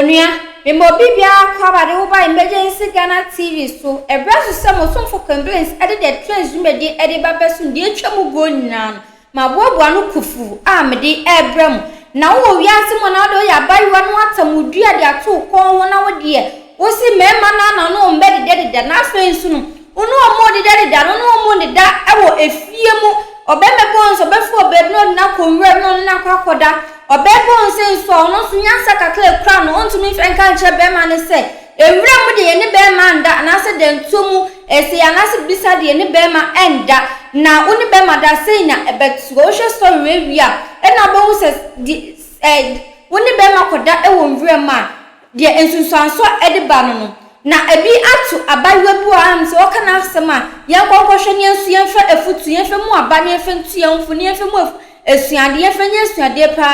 Onua, mema obi biara kɔ aba de wo ba Emergency Ghana TV so. Ɛbrɛ so sɛ mo somfo Kemblins de The Trends dwumadi de ba bɛsom deɛ atwa mu guo nyinaa no. Maboaboa ano kufuu a mede rebrɛ mo. Na wowɔ wiase mu anaa wode woyɛ abaayewa na woatam wo dua de ato wo kɔn ho na wo deɛ wose mmarima no ano mmɛdedɛdedɛ na afei nso no Wo ne wɔn rededadeda no, wo ne wɔn deda wɔ efie mu. Ɔbarima bi wɔ hɔ nso, ɔbɛfrɛ ɔbaa bi na ɔde no akɔ nwura mu na ɔne no akɔ akɔda. Ɔbaa bi wɔ hɔ nso nso a, ɔno nso nyansa kakra a ɛkura no, ɔntumi mfa nka nkyerɛ barima no sɛ, Nwura mu deɛ yɛne barima nda anaasɛ dantuo mu ɛsei anaasɛ biribi saa deɛ yɛne barima nda, na wo ne barima da a, sei na ɛbɛteɛ. Wohwɛ story wei wie a, ɛnna wobɛhu sɛ deɛ, sɛ wo ne barima kɔda wɔ nwura mu a, Deɛ nsunsuansoɔ de ba no no, na ɛbi ato abaayewa bi wɔ ha nom sɛ ɔka n'asɛm a, yɛnkɔ nkɔhwɛ na yɛnso yɛmfa afutuo, yɛmfa mu aba na yɛmfa ntu yɛn ho fo, na yɛmfa mu af asuadeɛ, yɛmfa nyɛ asuadeɛ pa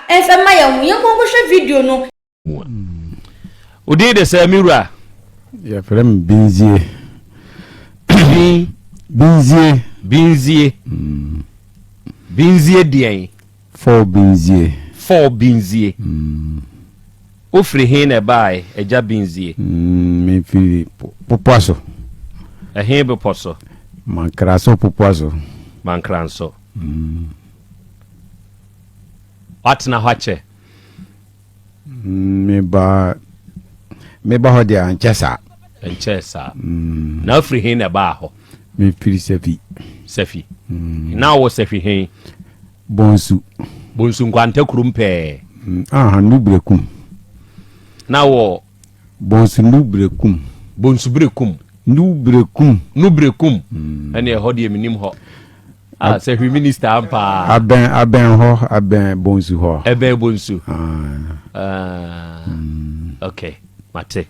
ara mfa mma yɛn ho. Yɛnkɔ nkɔhwɛ video no. Wo din de sɛ me wura? Yɛfrɛ me Binzie. Bin? Binzie. Binzie. Binzie deɛn? Fɔɔ Binzie. Fɔɔ Binzie. Wo firi he na ɛbaae, Agya Binzie? Me firi Popoa so. Ɛhe bepɔ so? Mankra so Popoa so. Mankra nso. Woatena hɔ akyɛ? meba meba hɔ deɛ ankyɛ saa ɛnkyɛɛ saa mm. na afiri he na ɛbaa hɔ mefiri safi safi mm. na wɔ safi he bonsu bonsu nkwanta kurom pɛɛ mm. aha no berɛkum na wɔ Bonsu nu bere kum. Bonsu bere kum. Nu bere kum. Nu bere kum. Ɛne ɛhɔ deɛ menim hɔ. Ah, sɛ hwi minister ampa. Abɛn abɛn hɔ abɛn bonsu hɔ. Ɛbɛn bonsu. Ah. ah. Mm. Okay, mate.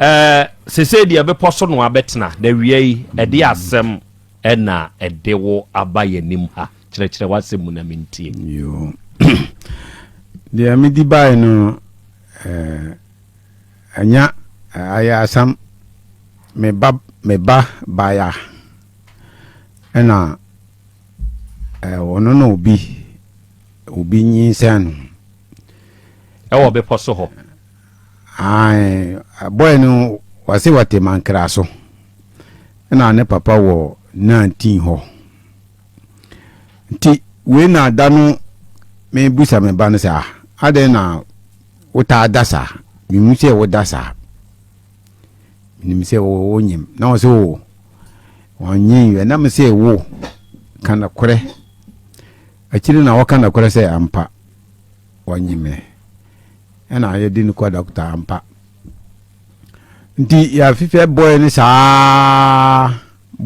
Eh, sese deɛ bepɔ so no abɛtena na wia yi ɛde mm. asɛm ɛna ɛde wo aba yɛn anim ha kyerɛkyerɛ w'asɛm mu na mentie. Yoo. Deɛ medi bae no eh, anya eh, ayɛ asam me ba me ba baya ɛna eh, ɔno na obi obi nyinsɛn no ɛwɔ bepɔ so hɔ ae bɔɛ no wɔse wɔte mankra so ɛna ne papa wɔ 19 hɔ Nti wei na da no mebisa me ba no sɛ, ah, adɛn na wotaa da saa? Mehu sɛ woda saa. Menim sɛ wonyem. Na ɔsɛ o, oh, wɔnyen yɛ. Na me sɛ wo, ka nokorɛ. Akyiri na wɔka nokorɛ sɛ ampa, wɔnye me. Ɛna yɛde no kɔ dɔkta ampa. Nti yɛafefɛ bɔe no saa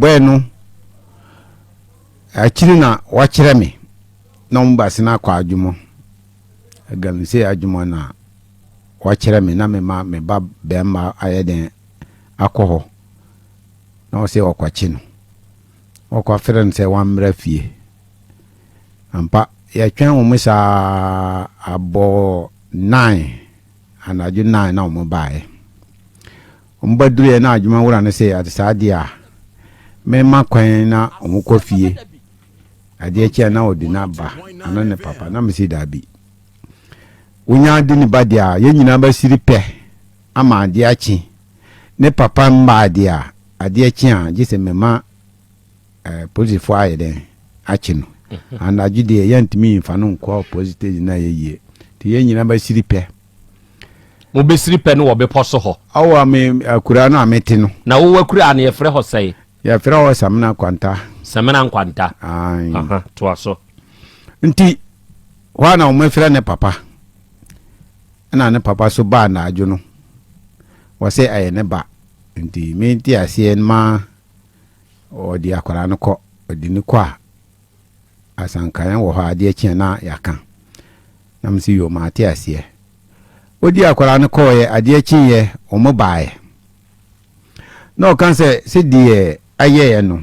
Bɔe no akyiri na wɔakyerɛ me na wɔn baase no akɔ adwuma. Galamsey adwuma na wɔakyerɛ me na mema me ba bɛrima ayɛ dɛn akɔ hɔ na wɔsɛ wɔkɔkye no. Wɔkɔafrɛ no sɛ wammra fie. Ampa, yɛtwɛn wɔn saa abɔ nine, anadwo nine na wɔn baeɛ. Wɔba duruiɛ na adwuma wura no se ade saa deɛ a, mema kwan na wɔkɔ fie. Adeɛ kye a na ɔde na ba anaa ne papa na mese daabi. Wonya de ne ba deɛ a, yɛn nyinaa bɛsiri pɛ ama adeɛ akye. Ne papa mmaa deɛ a, adeɛ kye a, gye sɛ mema eh, polisifoɔ ayɛ dɛn akye no. Anadwo deɛ yɛntumi mfa no nkɔ polisi station na yɛyie. Nti yɛn nyinaa bɛsiri pɛ. Mobɛsiri pɛ no wɔ bepɔ so hɔ. Wɔ me akuraa no a mete no. Na wo akuraa no yɛfrɛ hɔ sɛn? Yɛfrɛ hɔ Samina Kwanta. Samina Nkwanta. Aane. Aha, toa so. Nti, hɔ a na wɔafira ne papa. Ɛna ne papa so baa naadwo no. Wɔse ɛyɛ ne ba. Nti, me nteaseɛ ma ɔde akwaraa no kɔ. Ɔde no kɔ a. asanka yɛn wɔ hɔ a, adeɛ kye a na yɛaka. Na me sɛ, yoo, mate aseɛ. Ɔdi akwadaa no kɔeɛ, adeɛ kyeeɛ, wɔn baeɛ. Na ɔka sɛ, sɛdeɛ ayɛeɛ no,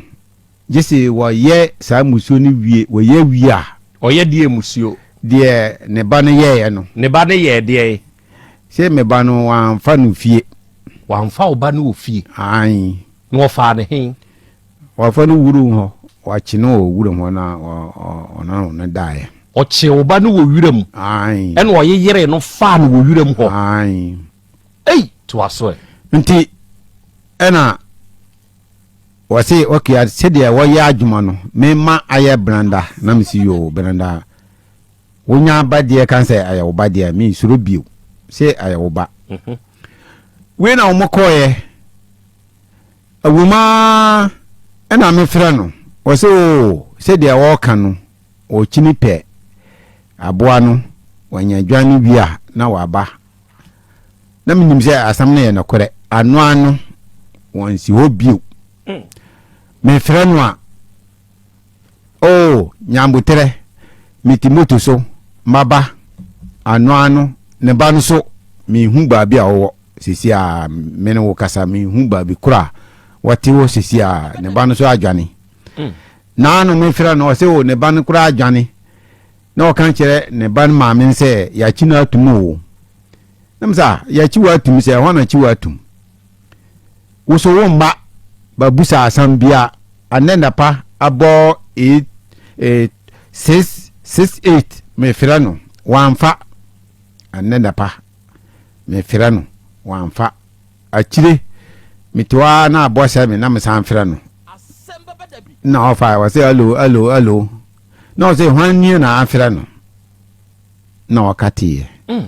gye sɛ wɔyɛ saa mmusuo no wie, wɔyɛ wie a. Ɔyɛ deɛ mmusuo. Deɛ ne ba no yɛeɛ no. Ne ba no yɛɛ deɛn? Sɛ me ba no, wɔamfa no fie. Wɔamfa wo ba no wɔ fie? Aane. Na wɔfaa no he? Wɔafa no wuruw hɔ. Wɔakye no wɔ wuram hɔ na wɔnan wɔn no daeɛ. Ɔkyee wo ba no wɔ wuram. Aane. Ɛna ɔyeyeree no faa no wɔ wuram hɔ. Aane. Ei! Toa so ɛ. Nti ɛna wɔse, ok, sɛdeɛ wɔyɛ adwuma no, mema ayɛ Branda. Na mese, yoo, Branda, wonya ba deɛ ka sɛ ayɛ wo ba deɛ, mensuro bio sɛ ayɛ wo ba. Wei na wɔkɔeɛ. Ɛwom ara na mefrɛ no, ɔsɛ oo sɛ deɛ ɔreka no, ɔkyini pɛ aboa no, wanya adwan no wie a na waba. Na menim sɛ asɛm no yɛ nokorɛ, ano ano, wɔnsi hɔ bio. Mefrɛ no a. O Nyanboterɛ, me Timoto so maba anoa no ne ba no so menhu baabi a wɔwɔ sɛsi a me ne wo kasa menhu baabi koro a wɔte wɔ sɛsi a ne ba no so adwane naa no mefrɛ no ɔsɛ o ne ba no koraa adwane na ɔka kyerɛ ne ba no maame sɛ yɛakyi no atum o nam sɛ yɛakyi wɔ atum sɛ ɛhɔ na akyi wɔ atum Woso wo mma ba busa asam bia anɛ napa abɔ ee ee sis sis eight me frɛ no wanfa anɛ napa me frɛ no wanfa akyire me te hɔ aa na abɔ sɛ me na me san frɛ no na ɔfa wɔ sɛ alo alo alo na ɔsɛ hwan nie na afrɛ no na ɔka teɛ. Mm.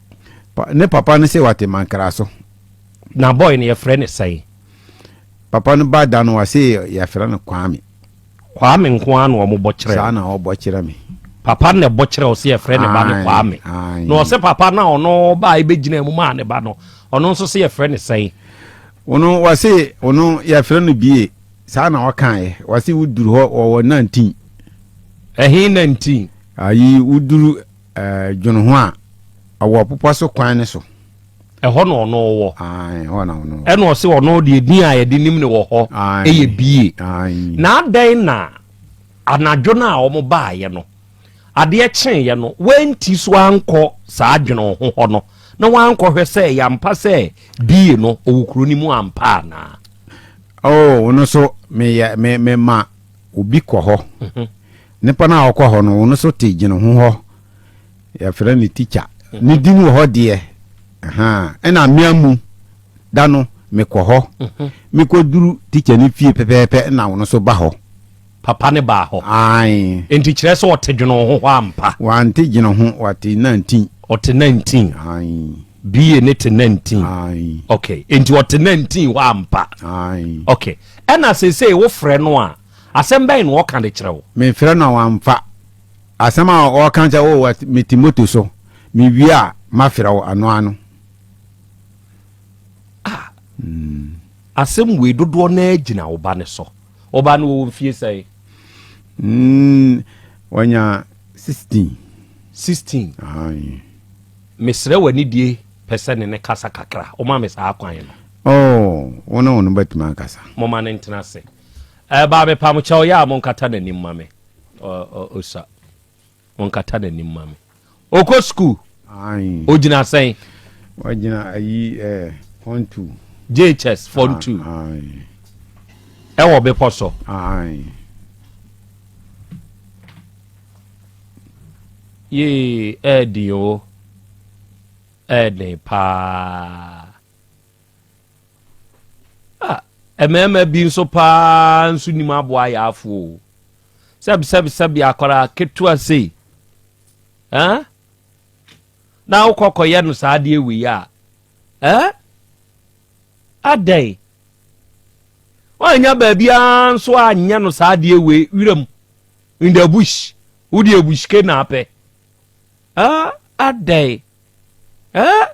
Ne papa no se wate mankra so. Na boy no yɛfrɛ no sɛn? Papa no ba da no wase yɛfrɛ no Kwame. Kwame nko ara na ɔmo bɔ kyerɛ. Saa na ɔbɔ kyerɛ me. Papa no na ɛbɔ kyerɛ ɔse yɛfrɛ ne ba no Kwame. Na ɔse papa no a ɔno baa ebegyinaa mu maa ne ba no ɔno nso se yɛfrɛ no sɛn? Ɔno wase ɔno yɛfrɛ no Bie. Saa na ɔkaeɛ. Wase woduru hɔ wɔwɔ 19. Ɛhe 19? Ayi woduru Ɛɛ, dwene ho a, ɔwɔ ɔpopɔ so kwan no so. Ɛhɔ na ɔno wɔ. Ae, ɛhɔ na ɔno wɔ. Ɛna ɔse ɔno deɛ din a yɛde nim no wɔ hɔ yɛ Bie. Ae. Na adɛn na anadwo no a wɔn baeɛ no, adeɛ kyeeɛ no, wɔanti so ankɔ saa dwene ho hɔ no, na wɔankɔhwɛ sɛ ɛyɛ ampa sɛ Bie no ɔwɔ kuro no mu ampa anaa? Oh, ɔno nso, meyɛ, me, mema. Obi kɔ hɔ. Nipa no a ɔkɔ hɔ no, ɔno so te gyina ho hɔ. Yɛfrɛ no tikya. Ne din wɔ hɔ deɛ. Ɛna mmea mu da no, mekɔ hɔ. Mekɔ duru tikya no fie pɛpɛɛpɛ na ɔno so ba hɔ. Papa no baa hɔ. Ae. Enti kyerɛ sɛ ɔte gyina ho hɔ ampa. Wante gyina ho, ɔte nantin. Ɔte nantin. Ae. BA no te nantin. Ae. Okay. Enti ɔte nantin hɔ ampa. Ae. Okay. Ɛna seesei wo frɛ no a, asɛm bɛn na ɔka de kyerɛ wo? Me frɛ no a wamfa. Asɛm a ɔka sɛ oh me te moto so, me wie a ma frɛ wo ano ano. Ah, asɛm wei dodoɔ no ara gyina wo ba no so. Wo ba no wɔ mfie sɛn? Mm, wanya 16. 16. Aye. Mesrɛ w'anidie. pɛ sɛ ne ne kasa kakra. Woma me saa kwan no. Oh, wo ne ɔno bɛtumi akasa. Momma no ntena ase. Eh, baa mepamkyɛw, yɛ a monkata n'anim ma me. Ɔ, Osa, monkata n'anim ma me. Ɔkɔ sukuu? Ae. Ɔgyina sɛn? Wagyina ayi, eh, fɔn tu. JHS, fɔn tu. Ae. Ɛwɔ bepɔ so? Ae. Yee, ɛɛdi o. ɛyɛ den paa a mmarima bi nso paa nso nim aboa yaafo o sɛbi sɛbi sɛbi akwaraa ketewa sei ɛn na wokɔ kɔyɛ no saa adeɛ wei a ɛn adɛn wɔanya baabiara nso anyɛ no saa adeɛ wei wiram in the bush wode abushke na apɛ ah adɛn eh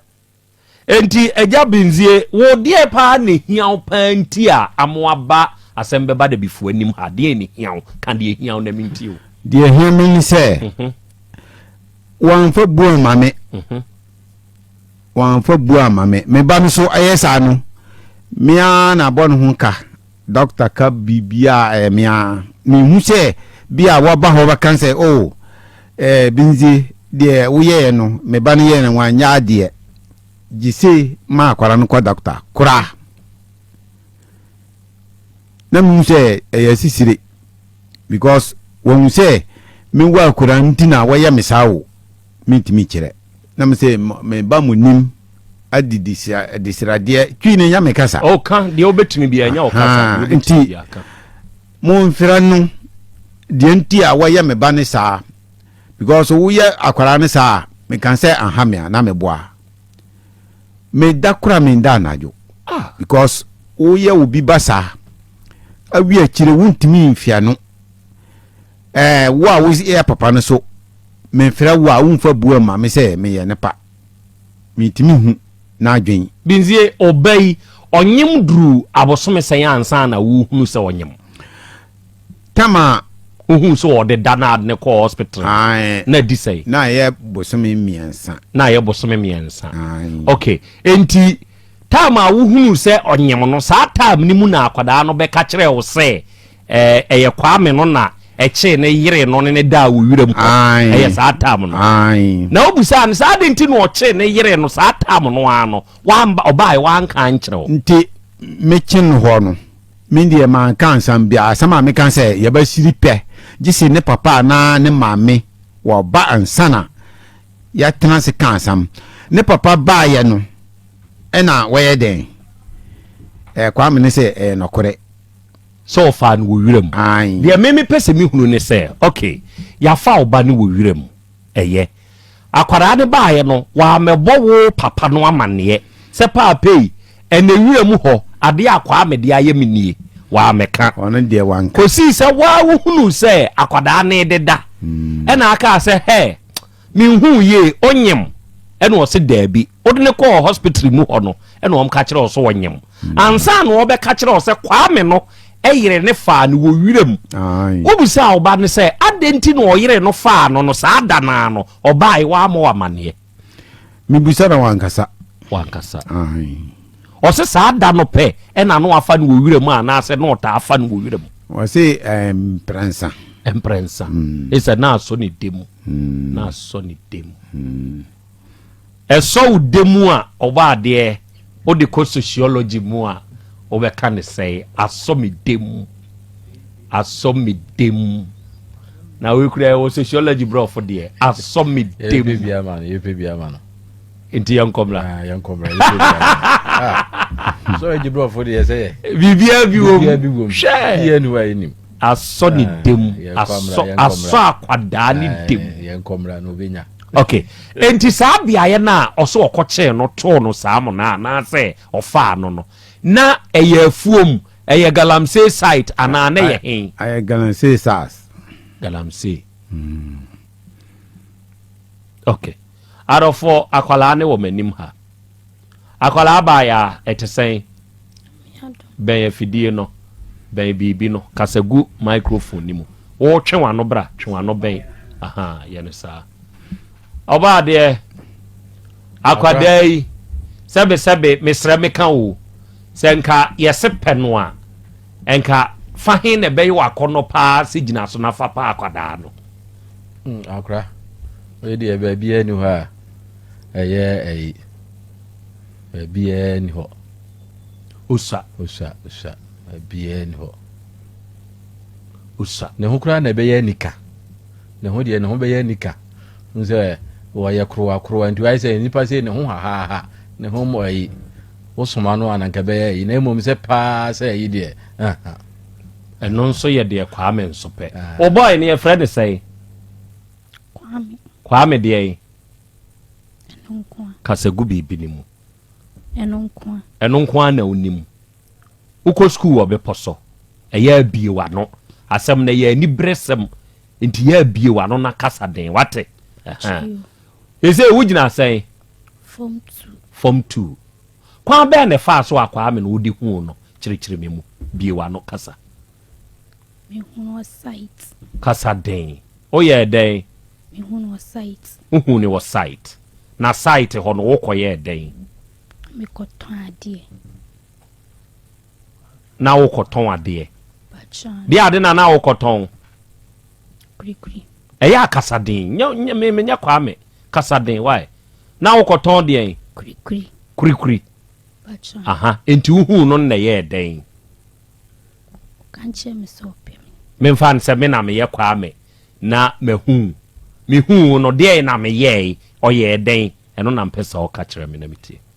enti agya benzie wo deɛ paa na ehia wo paa nti a amo aba asɛm bɛba da bifo anim ha deɛ ne hia wo ka deɛ hia wo na me nti o deɛ ehia me ni sɛ mhm. wɔamfa bu ama me mhm. wɔamfa bu ama me me ba no so ɛyɛ saa no mea na abɔ ne ho ka Dɔkta ka biribiara a, ɛyɛ me ara. Menhu sɛ bi a wɔba hɔ bɛka sɛ, Oh, eh, Binzie, deɛ woyɛeɛ no, me ba no yɛɛ no, wanyɛ adeɛ. Gyese ma akwadaa no kɔ dɔkta koraa. Na mehu sɛ ɛyɛ asisire because wɔhu sɛ mewɔ akwadaa nti na wɔyɛ me saa o. mentumi nkyerɛ. Na mese, meba mo nim adi desradeɛ twi ne nyame kasa. Ɔka deɛ wobɛtumi bia ɛnyɛ ɔkasa deɛ wobɛtumi bia ka. Momfrɛ no deɛ nti a wɔyɛ me ba ne saa because woyɛ akwaraa ne saa a meka sɛ aha me a na meboa meda kora menda anadwo ah. because woyɛ obi ba saa awi akyire wontumi mfia no Ɛɛ wo a wo yɛ papa no so me frɛ wo a wo nfa bua ma me sɛ me yɛ ne pa? Me ntumi hu n'adwen. Binzie, ɔba yi, ɔnyem duru abosome sɛn ansa na wo hunu sɛ ɔnyem? Tama. Wo hunu sɛ ɔde da na ade ne kɔɔ hospital no? Ae. Na adi sɛn? Na ayɛ bosome mmiɛnsa. Na ayɛ bosome mmiɛnsa. Ae. Ok, enti time a wo hunu sɛ ɔnyem no, saa time no mu na akwadaa no bɛka kyerɛɛ wo sɛ Ɛyɛ Kwame no na ɛkyee ne yere no ne no daa wɔ wiram hɔ. Ɛyɛ saa tam no. Na wobisaa no sɛ adɛn nti na ɔkyee ne yere no saa tam no ara no, wamba, ɔbaeɛ, wanka ankyerɛ wo. Nti mekye no hɔ no, me deɛ manka asɛm biara. Asɛm a meka sɛ yɛbɛsiri pɛ, gye sɛ ne papa anaa ne maame wɔba ansa na yɛatena ase ka asɛm. Ne papa baeɛ no, ɛna wɔyɛ dɛn? Ɛɛ, Kwame no sɛ ɛyɛ nɔkorɛ. sɛ wɔfaa no wɔ wiram. Aane. Deɛ me mepɛ sɛ me hunu ne sɛ, ok, yɛafa wo ba no wɔ wiram, ɛyɛ. Akwadaa no baeɛ no, wammɛbɔ wo papa no amanneɛ sɛ paapei, ɛnɛ wiram hɔ, adeɛ a Kwame de ayɛ me nie? Wammɛka. Ɔno deɛ wanka. Kɔsii sɛ wo ara wohunuu sɛ akwadaa no rededa, ɛna akaa sɛ, hɛ! Menhuu yie, onyem? Ɛna ɔse daabi. Wode no kɔɔ hospital mu hɔ no, ɛna wɔn ka kyerɛ wo so ɔnyem. Ansa na wɔbɛka kyerɛ wo sɛ Kwame no yere ne faa no wɔ wiram. Wobisaa wo ba no sɛ adɛn nti na ɔyere no faa no no saa da no ara no, ɔbae, wammɔ wo amanneɛ? Mebisa na wankasa. Wankasa. Ae. Ɔse saa da no pɛ na no afa no wɔ wira mu anaasɛ na ɔtaa fa no wɔ wira mu. Ɔse mprɛnsa. Mprɛnsa. Mm. Ɛsɛ na asɔ ne dɛ mu. Mm. Na asɔ ne dɛ mu. Mm. Ɛsɔ wo dɛ mu a ɔba adeɛ wode kɔ sociology mu a wobɛka ne sɛe asɔ me dɛ mu. Asɔ me dɛ mu. Na wei kura ɛwɔ sociology brɔfo deɛ asɔ me dɛ mu. Yɛpɛ bi ama no. Yɛpɛ bi ama no. nti yɛnkɔ mmra ah, yɛnkɔ mmra yɛnkɔ mmra ah. sɔrɔ gye borɔfo deɛ sɛ yɛ biribiara bi wɔ mu hwɛ yɛ ni wa yɛ nim asɔ ne ah, dɛm asɔ asɔ akwadaa ne dɛm yɛnkɔ mmra na obɛnya okay nti saa beaeɛ no a ɔsɛ ɔkɔkyee no too no saa mo no a anaasɛ ɔfaa no no na ɛyɛ afuom ɛyɛ galamsey site anaa na yɛ hen ɛyɛ galamsey sars galamsey hmm. okay Adɔfoɔ akwadaa no wɔ m'anim ha. Akwadaa baayaa, ɛte sɛn? Bɛn afidie no, bɛn biribi no, kasa gu microphone no mu. Wotwe w'ano bra, twe w'ano bɛn, aha, yɛ no saa. Ɔbaa deɛ, akwadaa yi, sɛbesɛbe, mesrɛ meka o, sɛ nka yɛse pɛ no a, Nka fa he na ɛbɛyɛ wo akɔnnɔ paa sɛ gyina so na fa pa akwadaa no. Hmm, akora wei deɛ baabiara ni hɔ a ɛyɛ ɛyi baabiara ni hɔ. osua osua osua baabiara ni hɔ. osua ne ho koraa na ɛbɛyɛ anika ne ho deɛ ne ho bɛyɛ anika n sɛ wɔyɛ korowakorowa nti wayɛ sɛ nnipa sɛ ne ho hahaha ne ho mmɔ ayi Wo soma no a na nka ɛbɛyɛ ayi na mmom sɛ paa sɛ ayi deɛ ahaa. Ɛno nso yɛ deɛ Kwame nso pɛ. Wo boy no yɛfrɛ no sɛn? Kwame. Kwame deɛn? Ɛno nko a. Kasa gu biribi no mu. Ɛno nko a. Ɛno nko a na wonim. Wokɔ sukuu wɔ bepɔ so. Ɛyɛ abie w'ano. Asɛm no yɛ aniberesɛm nti yɛ abie w'ano na kasa den. Wate? Ɛsɛ wogyina sɛn? Form Two. Form Two. Kwan bɛn na ɛfaa so a Kwame na wode huu no? Kyerɛkyerɛ me mu. Bue w'ano kasa. Mehunu wɔ site. Kasa den. Woyɛɛ dɛn? Mehuu no wɔ site. Wohuu no wɔ site. Na site hɔ no, wokɔyɛɛ dɛn? Mekɔtɔn adeɛ. na wokɔtɔn adeɛ deɛ ade na na wokɔtɔn ɛyɛ akasaden menyɛ kwaa me kasaden wae na wokɔtɔn deɛn kurikuri aha nti wohuu no nnɛ yɛɛ dɛn memfa no sɛ me na meyɛ kwaa me na mahu mehu no deɛn na meyɛe ɔyɛɛ dɛn ɛno na mpɛ sɛ ɔka kyerɛ me na metie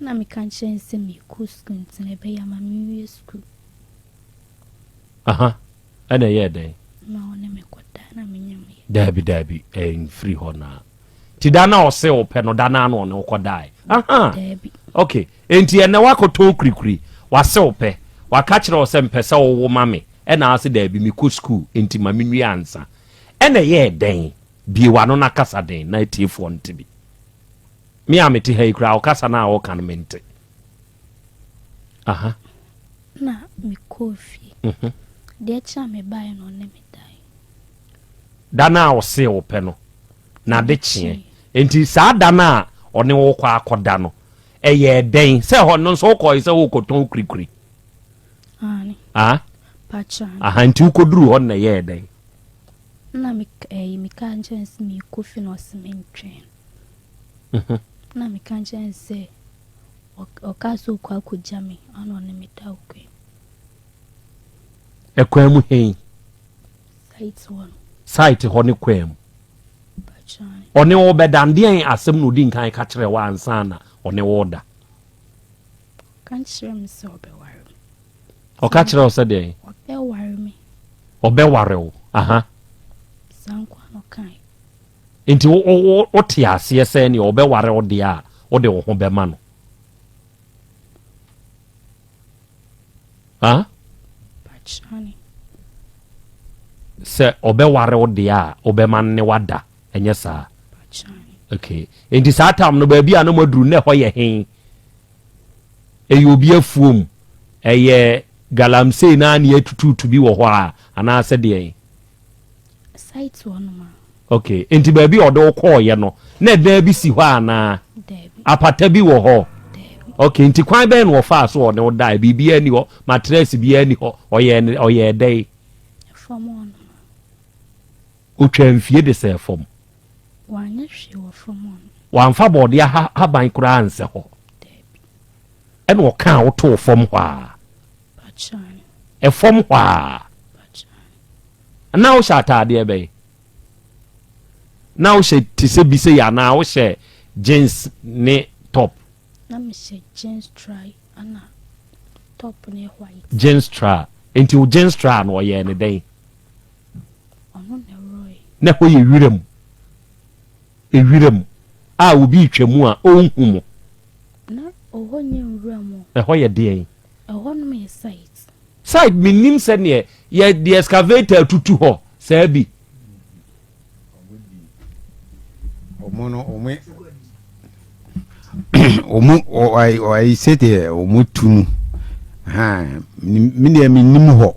Nna meka kyerɛ no sɛ merekɔ sukuu ntsi no ɛbɛyɛ a ma menwie sukuu. Aha, ɛna ɛyɛɛ dɛn? Na ɔne me kɔdaa na menye no yɛe. Daabi, daabi, ɛmfiri hɔ na. Nti da no a ɔse ɔpɛ no, da no ara na ɔne wo kɔdae? Aha, Daabi. ok, enti ɛnnɛ woakɔtɔn kurikuri, wase ɔpɛ, waka kyerɛ wo sɛ mepɛ sɛ wowo ma me, ɛna wase daabi, mekɔ sukuu enti ma menwie ansa. Ɛna ɛyɛɛ dɛn? Bue w'ano na kasa den na atiefoɔ nte bi. Me a mete ha yi koraa ɔkasa no a ɔka no mente. Aha. Na mekɔɔ fie. Mhm. Deɛ kyerɛ a mebaeɛ no ɔne me dae. Da no a ɔsee wo pɛ no na ade kyeɛ. Enti saa da no a ɔne wo kɔ akɔda no ɛyɛɛ dɛn sɛ hɔ no nso wokɔe sɛ worekɔtɔn wo kurikuri? Aane. Ah? Pakyɛ aane. Aha nti wokɔduru hɔ no na ɛyɛɛ dɛn? Na meka ɛyi meka nkyɛn sɛ merekɔ fie na ɔse mentwɛn. ho. Ɛna meka kyerɛɛ no sɛ, Ɔkaa sɛ ɔkɔ akɔgya me, ɛna ɔne me da ɔkɔe. Ɛkwan mu he? Site hɔ no. Site hɔ ne kwan mu. Ɔne wo bɛda ndeɛn asɛm na odi nkan ka kyerɛ wo ansa na ɔne wo da? Ɔka kyerɛ me sɛ ɔbɛware me. Ɔka kyerɛ wo sɛ deɛn? Ɔbɛware me. Ɔbɛware wo, aha. Saa nkoa na ɔkae. Enti wote aseɛ sɛ neɛ ɔbɛware wo deɛ a, wode wo ho bɛma no? Huh? Sɛ ɔbɛware wo deɛ a, wobɛma no ne wada, ɛnyɛ saa? Okay. Enti saa tam no baabi a na moaduru nnɛ hɔ yɛ he? Ɛyɛ obi afuom? Ɛyɛ galamsey na ne atutuutu bi wɔ hɔ a anaasɛ deɛ? Site hɔ nom a. Ok, nti baabi a ɔde wo kɔɔeɛ no, na ɛdan bi si hɔ anaa? Daabi. Apata bi wɔ hɔ? Daabi. Ok, nti kwan bɛn na ɔfaa so ɔne wo daeɛ? Biribiara nni hɔ? Matress biara nni hɔ? Ɔyɛɛ ɔyɛɛ dɛn? Fam hɔ nom a. Ɔtwaa mfie de sɛɛ fam? Wanyɛ hwee wɔ fam hɔ nom. Wamfa bɔɔdeɛ ha haban koraa ansɛ hɔ? Daabi. Ɛna ɔkaa wo too fam hɔ a? Fam hɔ a. Anaa wohyɛ ataadeɛ bɛn? Na wohyɛ te sɛ bi sɛ yɛ anaa wohyɛ jeans ne top? Na mehyɛ jeans try ana top ne white. Jeans try. Nti wo jeans try no ɔyɛ ne dɛn? Ɔno na ɛwurɔe. Na ɛhɔ yɛ wiram. Ewiram a obi retwa mu a ɔnhu mo. Na ɔhɔ nyɛ nwura mu. Ɛhɔ yɛ deɛn? Ɛhɔ nom yɛ site. Site me nim sɛ neɛ yɛ de excavator tutu hɔ saa bi. Ɔmo no ɔmo ɔmo ɔayi ɔayi sɛdeɛ ɔmo tu no haa me deɛ me nim hɔ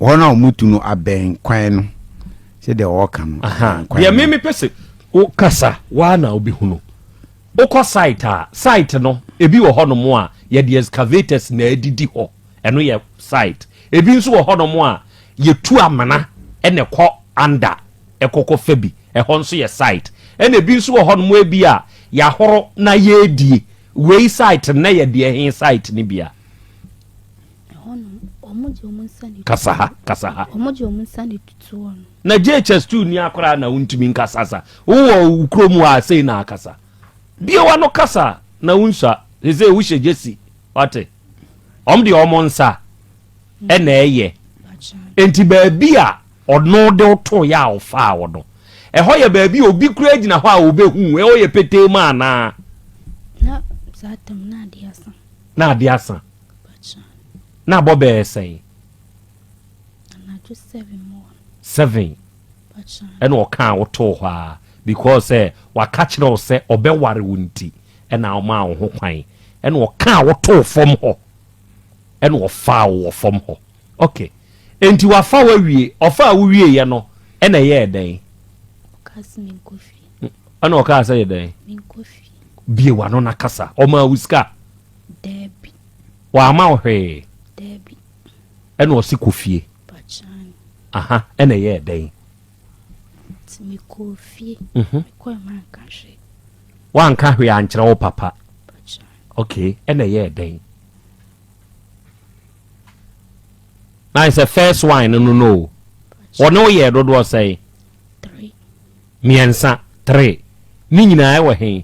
hɔ na ɔmo tu no abɛn kwan no sɛdeɛ ɔɔka no. Deɛ me me pɛ sɛ o kasa waa na obi hunu. Wokɔ site a, site no ebi wɔ hɔ nom a yɛde excavators na ɛdidi hɔ, ɛno yɛ site. Ebi nso wɔ hɔ nom a yɛtu amena na ɛkɔ under ɛkɔkɔ fa bi, ɛhɔ nso yɛ site. Ɛna ebi nso wɔ hɔ nom ebi a yɛahoro na yɛredie, wei site, nnɛ yɛdeɛ he site no bi a. Kasa ha, kasa ha. Na JHS tu ni akora na wontumi nkasa sa. Wowɔ wo kurom hɔ a sei na akasa. Bie w'ano kasa na wonsua. Sese wohyɛ gyesi. Wate? Wɔn deɛ wɔn nsa ɛna ɛyɛ. Nti baabi a ɔno de woto yɛ a ɔfaa wɔ no. Ɛhɔ yɛ baabi a obi kura gyina hɔ a obehu. Ɛhɔ yɛ petee mu anaa? Na ade asa. Na abɔ bɛyɛ sɛn? Seven. Ɛna ɔkaa wotoo hɔ a because sɛ waka kyerɛ wo sɛ ɔbɛware wo nti ɛna ɔmaa wo ho kwan ɛna ɔkaa wotoo fam hɔ ɛna ɔfaa wo wɔ fam hɔ okay nti wafa wo awie ɔfaa wo wie yɛ no ɛna ɛyɛɛ dɛn ɛna ɔkaa sɛ yɛ dɛn bie wano na kasa ɔmaa wo sika Daabi. W'amma wo hwee? Daabi. Ɛna ɔse kɔ fie. Pakyan. Aha, ɛna ɛyɛɛ dɛn? Nti me kɔɔ fie. Mhm. Me kɔɛ ma nka hwee. W'anka hwee ankyerɛ wo papa? Pakyan. Ok, ɛna ɛyɛɛ dɛn? Na ayɛ sɛ first wine no no no o. Wɔne wo yɛɛ dodoɔ sɛn? Three. Mmiɛnsa, three. Ne nyinaa ɛwɔ hen?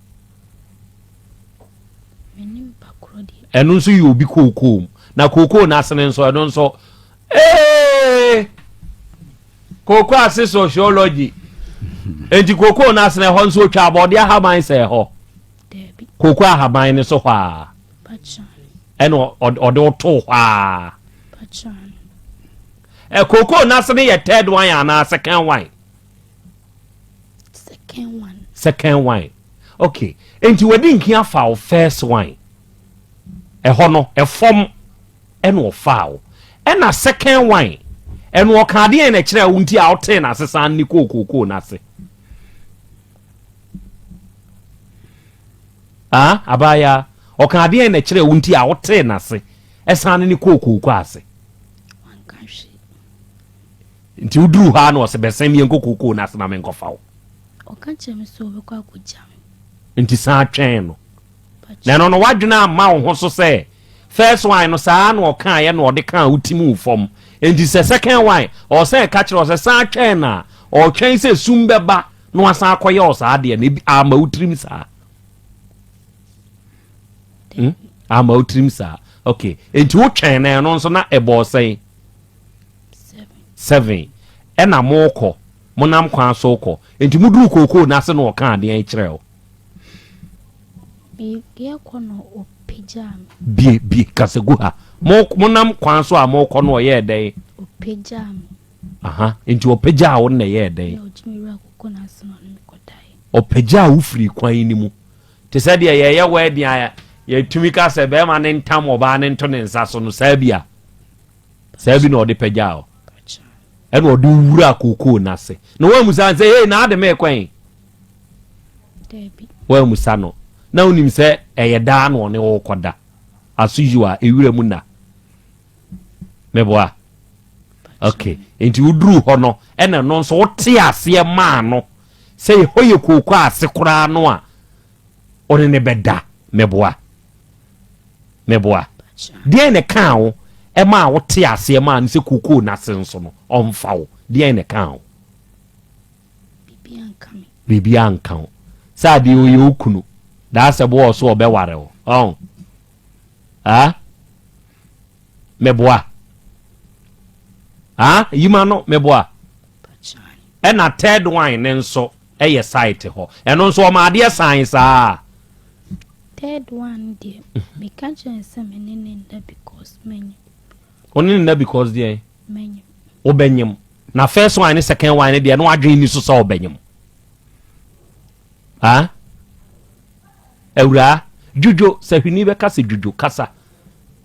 ɛno nso yɛ obi kookoo mu na kookoo no asene nso ɛno nso ee kookoo ase sociology nti kookoo no asene ɛhɔ nso otwa abɔde ahaban sɛ ɛhɔ kookoo ahaban no so hɔ a ɛna ɔde woto hɔ a kookoo no asene yɛ third wine anaa second wine second one second one okay nti wadi nkin afa wo first one ɛhɔ no ɛfam ɛna ɔfaa wo ɛna second one ɛna ɔka adeɛ na ɛkyerɛ wo nti a ɔtee na asesa ne kookoo na ase ah abaya ɔka adeɛ na ɛkyerɛ wo nti a ɔtee na ase ɛsan ne kookoo ase Nti woduruu hɔ ara na ɔse, Bɛsen me yɛnkɔ kookoo no ase ma menkɔfa wo. Ɔka kyerɛɛ me sɛ ɔbɛkɔ akɔgya me. Nti san twɛn no. Na ɛno no, w'adwene amma wo ho so sɛ first one no saa ara na ɔkaeɛ na ɔde kaa wo ti mu wo fam. Nti sɛ second one, ɔwɔ sɛ ɛka kyerɛ wo sɛ san twɛn no a ɔretwɛn sɛ sum bɛba na wasan akɔyɛ wo saa adeɛ no. Ebi, amma wo tirim saa? Hmm? Amma wo tirim saa? Okay. Nti wotwɛn na ɛno nso na ɛbɔɔ sɛn? Seven, Ɛna mookɔ, monam kwan so rekɔ, enti moduruu kookoo no ase na ɔkaa deɛn kyerɛɛ wo? Mereɛ kɔ na ɔpagyaa me. Bie, bie, kasa gu ha. Mo, monam kwan so a morekɔ no ɔyɛɛ dɛn? Ɔpagyaa me. Aha, enti ɔpagyaa wo na ɛyɛɛ dɛn? Na ɔgye me wuraa kookoo no ase na ɔne me kɔdaeɛ. Ɔpagyaa wo firii kwan no mu. Te sɛ deɛ yɛreyɛ wedding a yɛtumi ka sɛ bɛrima no ntam ɔbaa no nto ne nsa so no, saa bi a. saa bi na ɔde pɛgyaa hɔ ɛna ɔde wura kookoo no ase na woamusa no sɛ hei na ade mee kwan woamusa no na wonim sɛ ɛyɛ daa na ɔne wokɔda aso yiw a ɛwura mu na meboa okay nti woduru hɔ no ɛna ɛno nso wote aseɛ maa no sɛ hɔ yɛ kookoo ase koraa no a ɔne ne bɛda meboa Meboa? Deɛn na ɛkaa wo maa wotee aseɛ maa no sɛ kookoo no ase nso no, ɔmfa wo? Deɛn na ɛkaa wo? Biribiara nka wo. Sɛ adeɛ ɔyɛ wo kunu, daa sɛ boɔ so ɔbɛware wo. Ɔn? Ha? Meboa? Ha? Yima no, meboa? Ɛna third one ne nso, yɛ site hɔ ɛno nso ɔma adeɛ sane saa. Third one deɛ meka kyerɛ sɛ me ne ne nda because manyim. Wo ne ne nda because deɛn? Manyim. Wobɛnyim na first one ne second one ne deɛ no adwene ni so sɛ ɔbɛnyim. Ah? Awuraa dwudwo sɛ hwini bɛka sɛ dwudwo kasa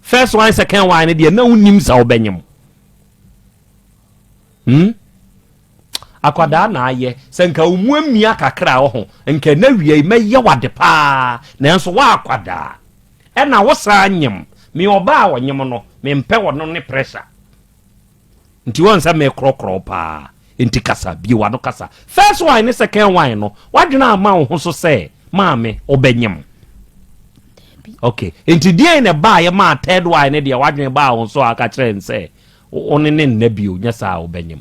first one second one ne deɛ na wonim sɛ wobɛnyem hmm? Akwadaa na ayɛ, sɛ nka wo mu amia kakra a ɔho, nka ɛna wiei mɛyɛ wo ade paa, nanso wo akwadaa, ɛna wo saa nyem, me ɔbaa a ɔnyem no, me mpɛ ɔno ne pressure, nti woahu sɛ me korɔkorɔ wo paa, nti kasa, bue w'ano kasa, first wine ne second wine no, w'adwene amma wo ho so sɛ, maame, wo bɛ nyem? ok, nti deɛn na ɛbaeɛ maa third wine ne deɛ w'adwene baa wo so a, ka kyerɛ no sɛ, wo ne ne nna bio, nyɛ saa a wo bɛ nyem.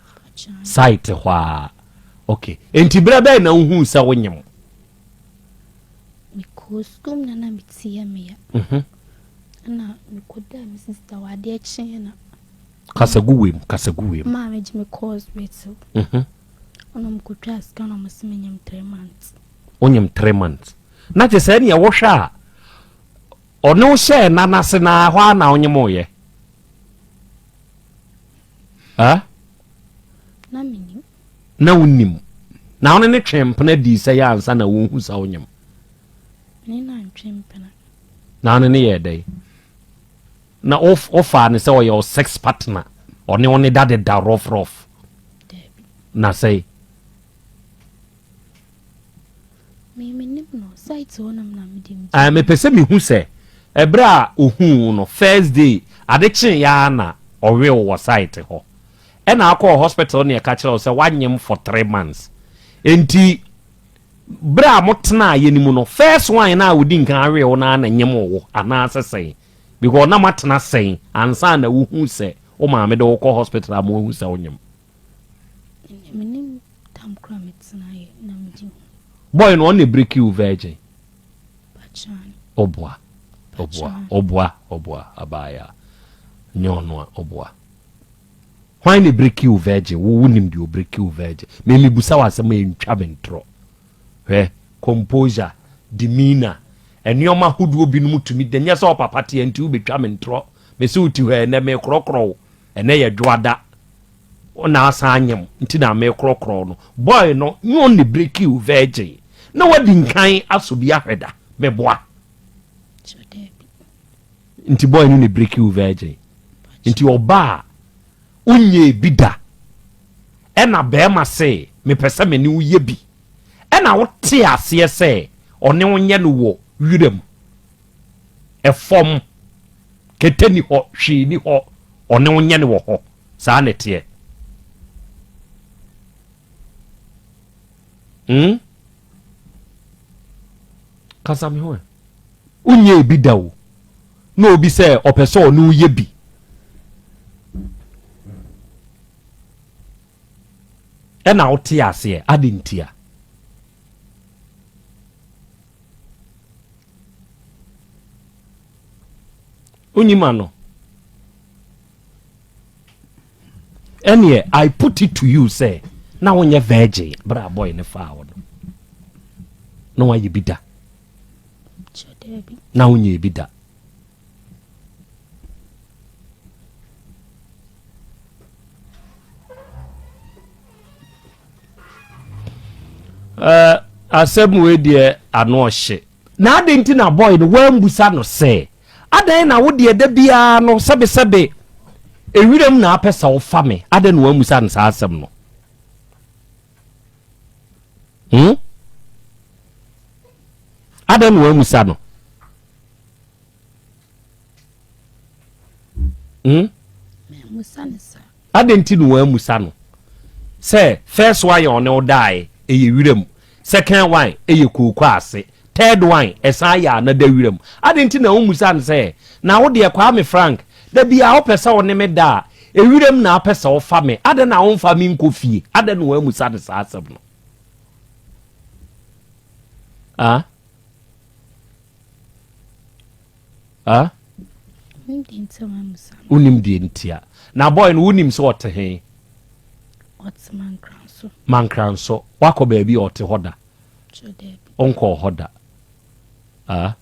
Site hɔ a. Okay. Enti berɛ bɛn na wohuu sɛ wonyem? Mekɔɔ sukuu na na metia me ya. Mhm. Ɛna mekɔdaa me sista wɔ adeɛ kyeeɛ na. Kasa gu wei mu, kasa gu wei mu. Maa megye me course bɛtew. Mhm. Ɛna mekɔtwaa sika na wɔse menyem three months. Wonyem three months. Na te sɛ ɛneɛ wohwɛ a Ɔne wo hyɛɛ nan ase no ara hɔ ara na wonyemoeɛ? Ɛ? Na menim. Na wonim. Na wone no twee mpena dii sɛ yɛ ansa na wohu sɛ wonyem. Ne na ntwe mpena. Na wone no yɛɛ dɛn? Na wofaa no sɛ ɔyɛ wo sex partner, ɔne wo ne da de da rough rough. Daabi. Na sɛe. Mepɛ sɛ mehu sɛ ɛberɛ a ɔhuu wo no first day ade kyee yɛ ara na ɔwe wo wɔ site hɔ ɛna akɔ hospital na ɛka kyerɛ wo sɛ wanyem for three months nti berɛ a motenaa yɛ no mu no first one na a ɔdi nkan awe wo no ara na nyem wo anaa sɛ sɛn because na moatena sɛn ansa na wohu sɛ wo maame de wo kɔ hospital a moahu sɛ wonyem. Boy no ɔno na break you virgin. Ɔboa. Ɔboa. Ɔboa. Ɔboa. Abaaya. Nyɛ ɔno a ɔboa. Why na break you virgin? Wo wo nim deɛ break you virgin. Me me busa wɔ asɛm a ntwa me ntorɔ. Hwɛ composure, demeanor, nneɛma ahodoɔ binom tumi da nyɛ sɛ ɔpapa teɛ nti wobɛtwa me ntorɔ. Me se wo ti hɔ ɛnɛ mekorɔkorɔ wo. Ɛnɛ yɛ dwoada wo na asan anyem nti na me korɔkorɔ no boy no nye on ne breki wo virgin na wadi nkan aso bi ahwɛ da me boa nti boy no ne breki wo virgin nti ɔba a wonyɛ bi da ɛna bɛrima se mepɛ sɛ me ne wo yɛ bi ɛna wote aseɛ sɛ ɔne wo nyɛ no wɔ wiram fam, kɛtɛ ni hɔ, hwee ni hɔ, ɔne wo nyɛ ne wɔ hɔ. Saa na ɛteɛ. Hmm? Kasa me ho ɛ. Wonyɛ ebi da o. Na obi sɛ ɔpɛ sɛ ɔne woyɛ bi. Ɛna wote aseɛ ade ntia. Wonyi ma no. Ɛneɛ I put it to you sɛ na wonyɛ virgin berɛ a boy ne faa wo no. Na wayɛ bi da. Na wonyɛ bi da. Eh, asɛm wei deɛ ano ɔhye na ade nti na bɔe no woambusa no sɛ adɛn na wo deɛ da biara no sɛbesɛbe ewiram na apɛ sɛ wofa me adɛn na woambusa no saa asɛm no hmm? adɛn na woambusa no Hmm? adɛn nti na wɔamusa no sɛ first one ɔne wo daeɛ ɛyɛ wira mu second one ɛyɛ kooko ase third one ɛsan yɛ anada wira mu adɛn nti na womusa no sɛ na wo deɛ kwaa me frank da bi a wopɛ sɛ wo ne me da a ɛwira mu na wopɛ sɛ wofa me adɛn na womfa me nkɔ fie adɛn na wɔamusa no saa asɛm no ah? ah wonim deɛ ntia na boy no wonim sɛ ɔte he mankra nso woakɔ baabi a ɔte hɔ da ɔnkɔɔ hɔ da ah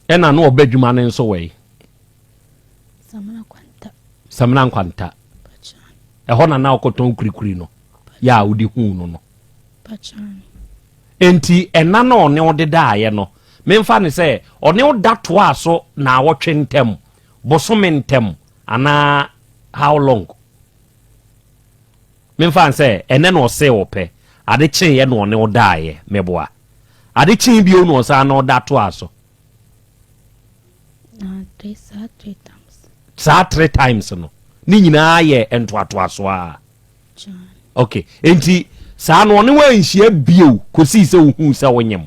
ɛna na ɔbɛ adwuma no nso wɛi samina nkwanta ɛhɔ na na ɔkɔtɔn kurikuri no yɛ a wode huu no no. Enti ɛna na ɔne wo dedaeɛ no, memfa ne sɛ ɔne wo da toaa so naawɔtwe ntam, bosome ntam, anaa how long? Memfa ne sɛ ɛnɛ na ɔsee wo pɛ, ade kyeeɛ na ɔne wo daeɛ, meboa. Ade kyee bio na ɔsan na ɔda toaa so. Saa three times no, ne nyinaa yɛ ntoatoasoɔ a. ok nti saa no ɔne wanhyia bio kosii sɛ wohuu sɛ wonyem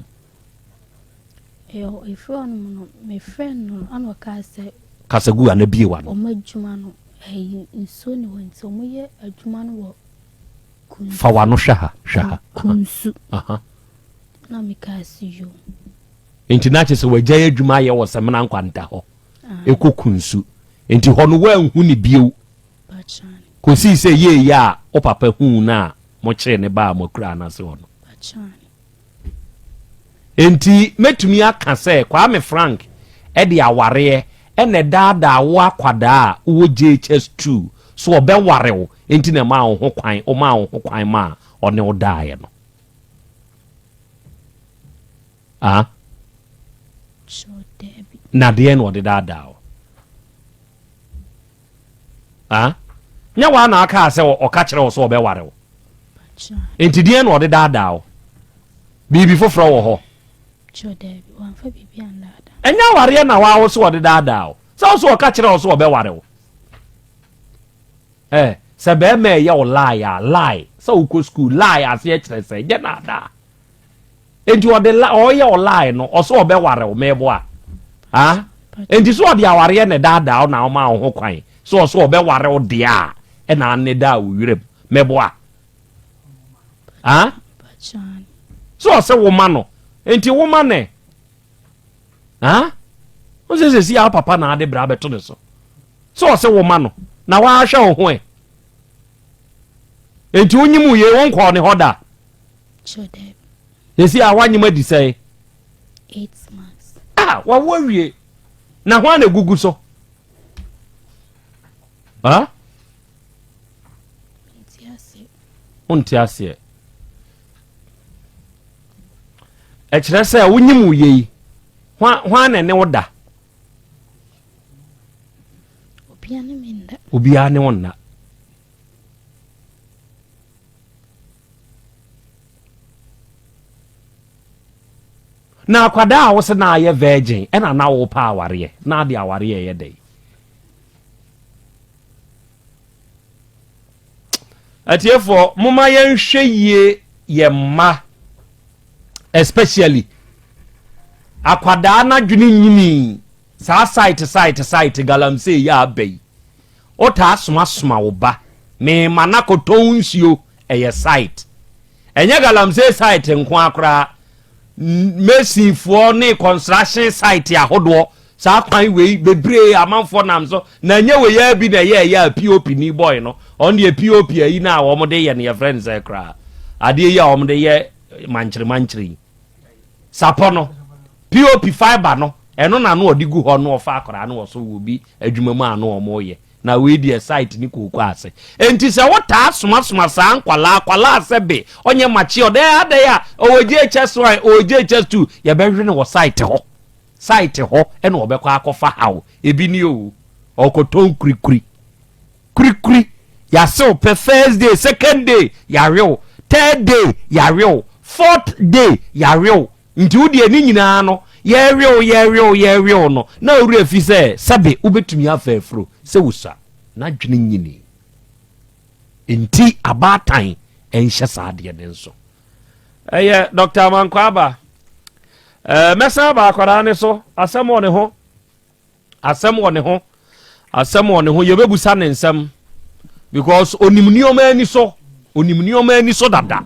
ɛfiri ɔno mu no mefrɛ no ana ɔkaa sɛ kasagu ana bie wa no ɔma adwuma no ɛyi nsuo ne hɔ nti ɔmo yɛ adwuma no wɔ kunsu fa wa no hwɛ ha hwɛ ha kunsu na mekaa sɛ yo nti na kyɛ sɛ wagyae adwuma ayɛ wɔ sɛmena nkwanta hɔ ɛkɔ kunsu nti hɔ no woanhu ne bio kosii sɛ yɛɛ yɛ a wo papa huu no a mokyeree no baa mo akuraa no ase hɔ no. Enti mɛtumi aka sɛ Kwame Frank de awareɛ na ɛdaadaa wo akwadaa a wowɔ JHS two so ɔbɛware wo nti na ɛmaa wo ho kwan, womaa wo ho kwan maa ɔne wo daeɛ no. Ah? Na deɛ na ɔde daadaa wo. Ah? Nyɛ woa na akaa sɛ ɔka kyerɛ wo sɛ ɔbɛware wo. Enti deɛn na ɔde daadaa wo? Biribi foforɔ wɔ hɔ. Ɛnyɛ awareɛ na waa wo sɛ ɔde daadaa wo. Sɛ wo sɛ ɔka kyerɛ wo sɛ ɔbɛware wo. Eh, sɛ bɛrima ɛyɛ wo lie a, lie. Sɛ wokɔ sukuu, lie aseɛ kyerɛ sɛ, ɛnyɛ naadaa. Enti ɔde la ɔreyɛ ɔlae no ɔsɛ ɔbɛware wo mɛboa ah enti sɛ ɔde awareɛ na ɛdaadaa na ɔma wo ho kwan sɛ ɔsɛ ɔbɛware wo deɛ a ɛna anne daa wo werɛ mu mɛboa ah sɛ ɔsɛ wo ma no enti wo ma nɛ ah wo sɛ sɛ si a papa na ade bra bɛto ne so sɛ ɔsɛ wo ma no na wahwɛ wo ho ɛ enti wonyim wo yei wonkɔɔ ne hɔ da Sure dɛ. Sɛsi a w'anyem adi sɛn? Eight months. Ah, wawo awie. Na hwan na egugu so? Ah? Wonte aseɛ. Ɛkyerɛ sɛ wonyim wo yei. Hwan na ɛne wo da? Obiara ne wo nna. na akwadaa a wo se na ayɛ virgin ɛna na wo pa awareɛ na ade awareɛ yɛ dɛ atiefoɔ moma yɛnhwɛ yie yɛ mma especially akwadaa n'adwene nyini Saa site site site galamsey yi a aba yi wotaa soma soma wo ba meema no akɔtɔn nsuo ɛyɛ site ɛnyɛ galamsey site nko ara koraa mason foɔ ne construction site ahodoɔ saa kwan wei bebree amanfoɔ nam so na nyɛ wei ara bi na ɛyɛ ɛyɛ a pop ni boy no ɔno deɛ pop ayi no a wɔn de yɛ no yɛfrɛ no sɛ koraa adeɛ yi a wɔn de yɛ mankyere mankyere yi. sapɔ no pop fibre no ɛno na no ɔde gu hɔ no ɔfa akwadaa no ɔso wɔ bi adwuma mu a no wɔn yɛ na wei deɛ site ne kooko ase nti sɛ wotaa somasoma saa nkwalaa kwalaa sɛ be ɔnyɛ makye ɔdɛ adɛ a ɔwɔ JHS one ɔwɔ JHS two yɛbɛhwe no wɔ site hɔ site hɔ ɛna ɔbɛkɔ akɔfa haw ebi ni o ɔkɔtɔn kurikuri. kurikuri yase wo pɛ first day second day yawe wo third day yawe wo fourth day yawe wo nti wo deɛ ne nyinaa no yɛwe wo yɛwe wo yɛwe wo no na owura fi sɛ sɛbe wobɛtumi afa afuro sɛ wosua n'adwene nyini nti abaatan ɛnhyɛ saa adeɛ no nso ɛyɛ dr mankwaba ɛɛ mɛsan aba akwadaa ne so asɛm wɔ ne ho Asɛm wɔ ne ho. Asɛm wɔ ne ho. Yɛbɛbusa ne nsɛm because onim nneɛma ani so. Onim nneɛma ani so dada.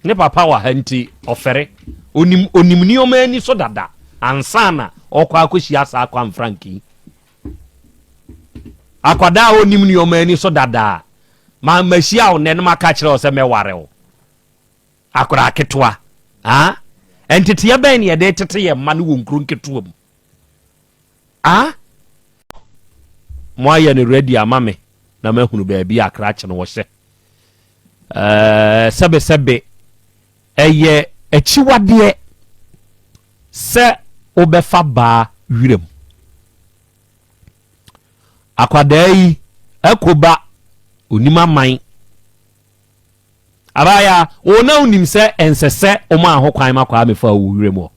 Ne papa wɔ ha nti ɔfɛre. Onim onim nneɛma ani so dada ansa na ɔkɔ akɔhyia saa kwan franki. Akwadaa a onim nneɛma ani so dada ma mahyia wo nnɛ no maka kyerɛ wo sɛ mɛware wo. Akwadaa ketewa, ah, nteteɛ bɛn na yɛde retete yɛn mma no wɔ nkuro nketewa mu? Ah, moayɛ no ready ama me na mahunu baabi a krakye no wɔhyɛ. Ɛɛ sɛbesɛbe ɛyɛ akyiwadeɛ sɛ wobɛfa baa wiram. Akwadaa yi ɛkoba onim aman Abaayaa, wo na wonim sɛ ɛnsɛ sɛ womaa ho kwan ma kwaa mefaa wo wuram hɔ.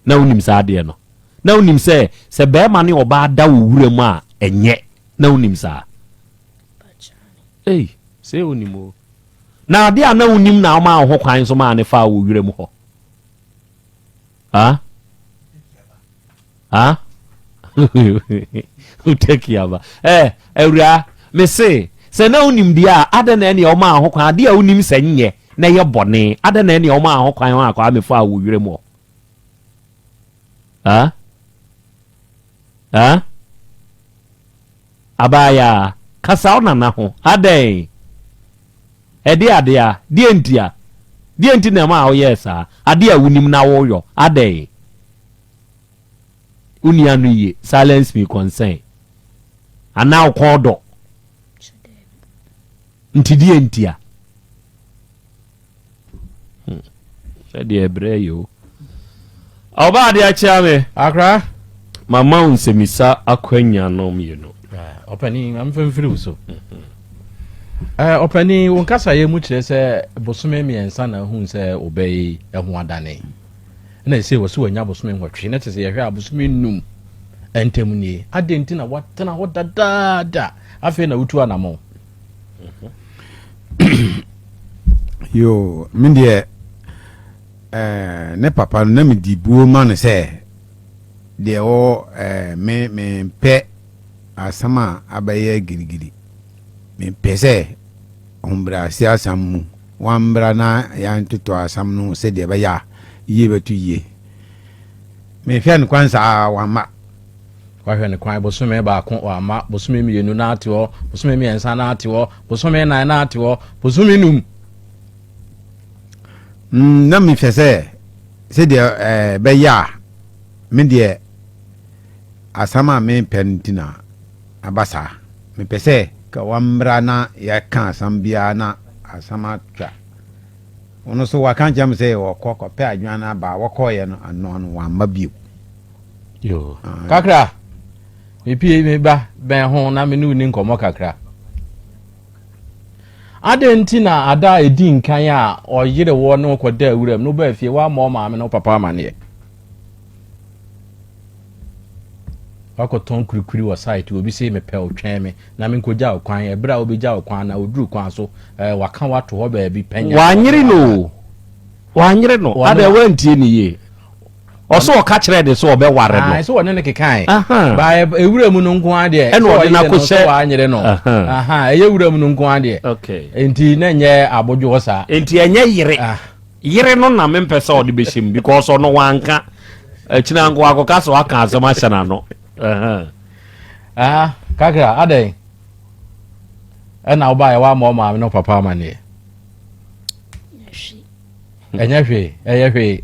Na wonim saa adeɛ no. Na wonim sɛ sɛ barima ne ɔbaa da wo wuram a ɛnyɛ. Na wonim saa. Ei, sei wonim o. Na adeɛ a na wonim na womaa wo ho kwan nso maa no faa wo wuram hɔ. Ah? Ah? Wotaki aba. Eh, awuraa, me se, sɛ na wonim deɛ a, adɛn na ɛneɛ womaa ho kwan, adeɛ a wonim sɛ nyɛ na ɛyɛ bɔne, adɛn na ɛneɛ womaa ho kwan hɔ akwaa mefaa wo werɛ mu hɔ? Ah? Ah? Abaayaa, kasa wo nana ho. Adɛn? Ɛde ade a? Deɛ ntia? Deɛ nti na ɛmaa woyɛɛ saa? Ade a wonim na woyɔ, adɛn? Wonni ano yie, silence me concern. Anaa wo kɔn dɔ? Nti deɛ ntia? ɛdeɛ ɛbrɛ yi o ɔba adeɛ akyea me akra mama wo nsɛmisa akwanya no mmienu ɔpanin mamfa mfiri wo so ɔpanin wo nkasayɛ mu kyerɛ sɛ bosome mmiɛnsa na ahu sɛ wobɛyi ɛho adane na ɛsɛ wɔ so wanya bosome nwɔtwe na te sɛ yɛhwɛ a bosome num ntam nie adɛn nti na watena hɔ dadaada afei na wotu anamɔ yoo me deɛ eh, ne papa no na medi buo ma no sɛ deɛ ɔ eh, me mempɛ asɛm a abɛyɛ girigiri mempɛ sɛ ɔmbrase asɛm mu wambra na yɛantotɔ asɛm no sɛdeɛ ɛbɛyɛ a yie bɛto yie mehwɛ no kwan saa wamma Wahwɛ no kwan bosome baako wama, bosome mmienu na ate hɔ, bosome mmiɛnsa na ate hɔ, bosome nnan na ate hɔ, bosome num. Mm, na mehwɛ sɛ sɛdeɛ ɛɛ eh, bɛyɛ a me deɛ asɛm a mepɛ no nti na aba saa mepɛ sɛ ka wammra na yɛka asɛm biara na asɛm atwa ɔno so waka nkyɛm sɛ wɔkɔ kɔpɛ adwan no aba wɔkɔɔyɛ no anoa no wamma bio yoo kakra mepie me ba bɛn ho na me ne ni nkɔmmɔ kakra adɛn nti na ada a ɛdi nkan a ɔyere wɔ ne wokɔda awuram no wobaa fie woama ɔmaame no papa amanneɛ wakɔtɔn kurikuri wɔ site obi se mepɛ otwɛn me na menkɔgya wo kwan ɛberɛ a wobɛgya wo kwan na woduru kwan so eh, waka wato hɔ baabi pɛnya wanyere no wanyere no adɛ wantie ne yie ɔsɛ ɔka kyerɛ ne sɛ ɔbɛware no sɛ ɔne no kekae ba ɛwura mu no nko adeɛ ɛna ɔde no akɔhyɛ wanyere no ɛyɛ wura mu no nko adeɛ enti na ɛnyɛ abodwoɔ saa enti ɛnyɛ yere yere no na mempɛ sɛ ɔde bɛhyɛ mu because ɔno wanka akyina nko akɔka sɛ waka asɛm ahyɛ n'ano kakra adɛn ɛna wobaeɛ woama ɔmaame no papa amanneɛ ɛnyɛ hwee ɛyɛ hwee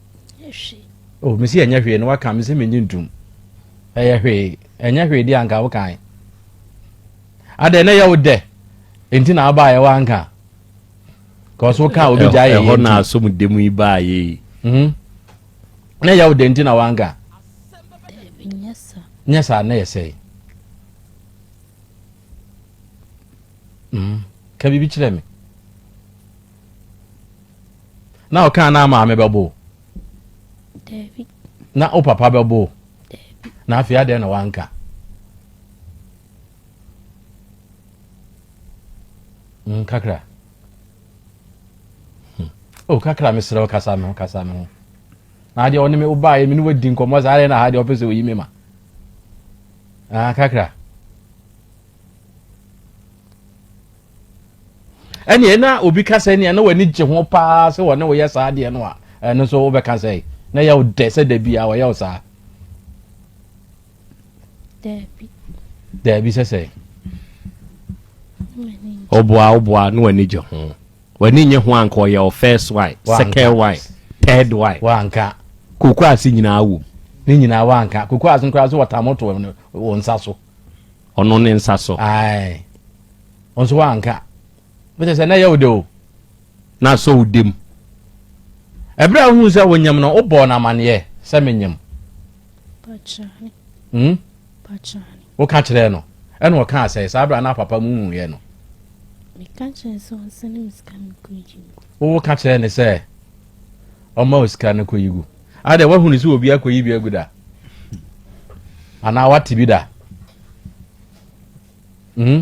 hwee. Oh, me si ɛnyɛ hwee no waka me sɛ me nye ntum. Ɛyɛ hwee. Ɛnyɛ hwee di anka wokan. Adɛ na ɛyɛ wo dɛ. Nti na aba ɛwɔ anka. Kɔɔ so woka obi gya yɛ yɛ nti. Ɛhɔ na asom demu yi baa yɛ yi. Mhm. Na ɛyɛ wo dɛ nti na wanka. Nyɛ saa na yɛ sɛe. Mhm. Ka biribi kyerɛ me. Na ɔkaa na maame bɛbo. Dabi. Na wo papa bɛbo. Dabi. Na afei adɛn na wanka. Mm, kakra. Hmm. Oh, kakra mesrɛ wo kasa me ho kasa me ho. Na adeɛ ɔne me wobaeɛ me ne wadi nkɔmmɔ saa adeɛ na ha deɛ ɔpɛ sɛ oyi me ma. Ah, kakra. ɛneɛ na obi ka sɛ nea na w'ani gye ho paa sɛ wɔne woyɛ saa adeɛ no a ɛno nso wobɛka sɛ na yɛ wo dɛ sɛ da bia wɔyɛ wo saa daabi sɛ sɛ ɔboa ɔboa na w'ani gye ho w'ani nye ho anka ɔyɛ wo first wife second wife third wife wanka koko ase nyinaa wom ne nyinaa wanka koko ase nkora so wɔtamo to wɔ nsa so ɔno ne nsa so. Ae. Wo nso woanka. Wotɛ sɛ na ɛyɛ wo de o. Na asɔ wo dem. Ɛberɛ a wohuu sɛ wonyam no, wobɔɔ no amanneɛ sɛ menyam. Pakyane. Hmm? Pakyane. Woka kyerɛɛ no, ɛna ɔkaa sɛ saa berɛ a na papa mu huiɛ no. Meka kyerɛɛ sɛ ɔnsɛne me sika me kɔgye mu. Wowo ka kyerɛɛ ne sɛ. ɔma wo sika no kɔyi gu adɛ woahunu sɛ obi akɔyi bi agu da anaa woate bi da hmm?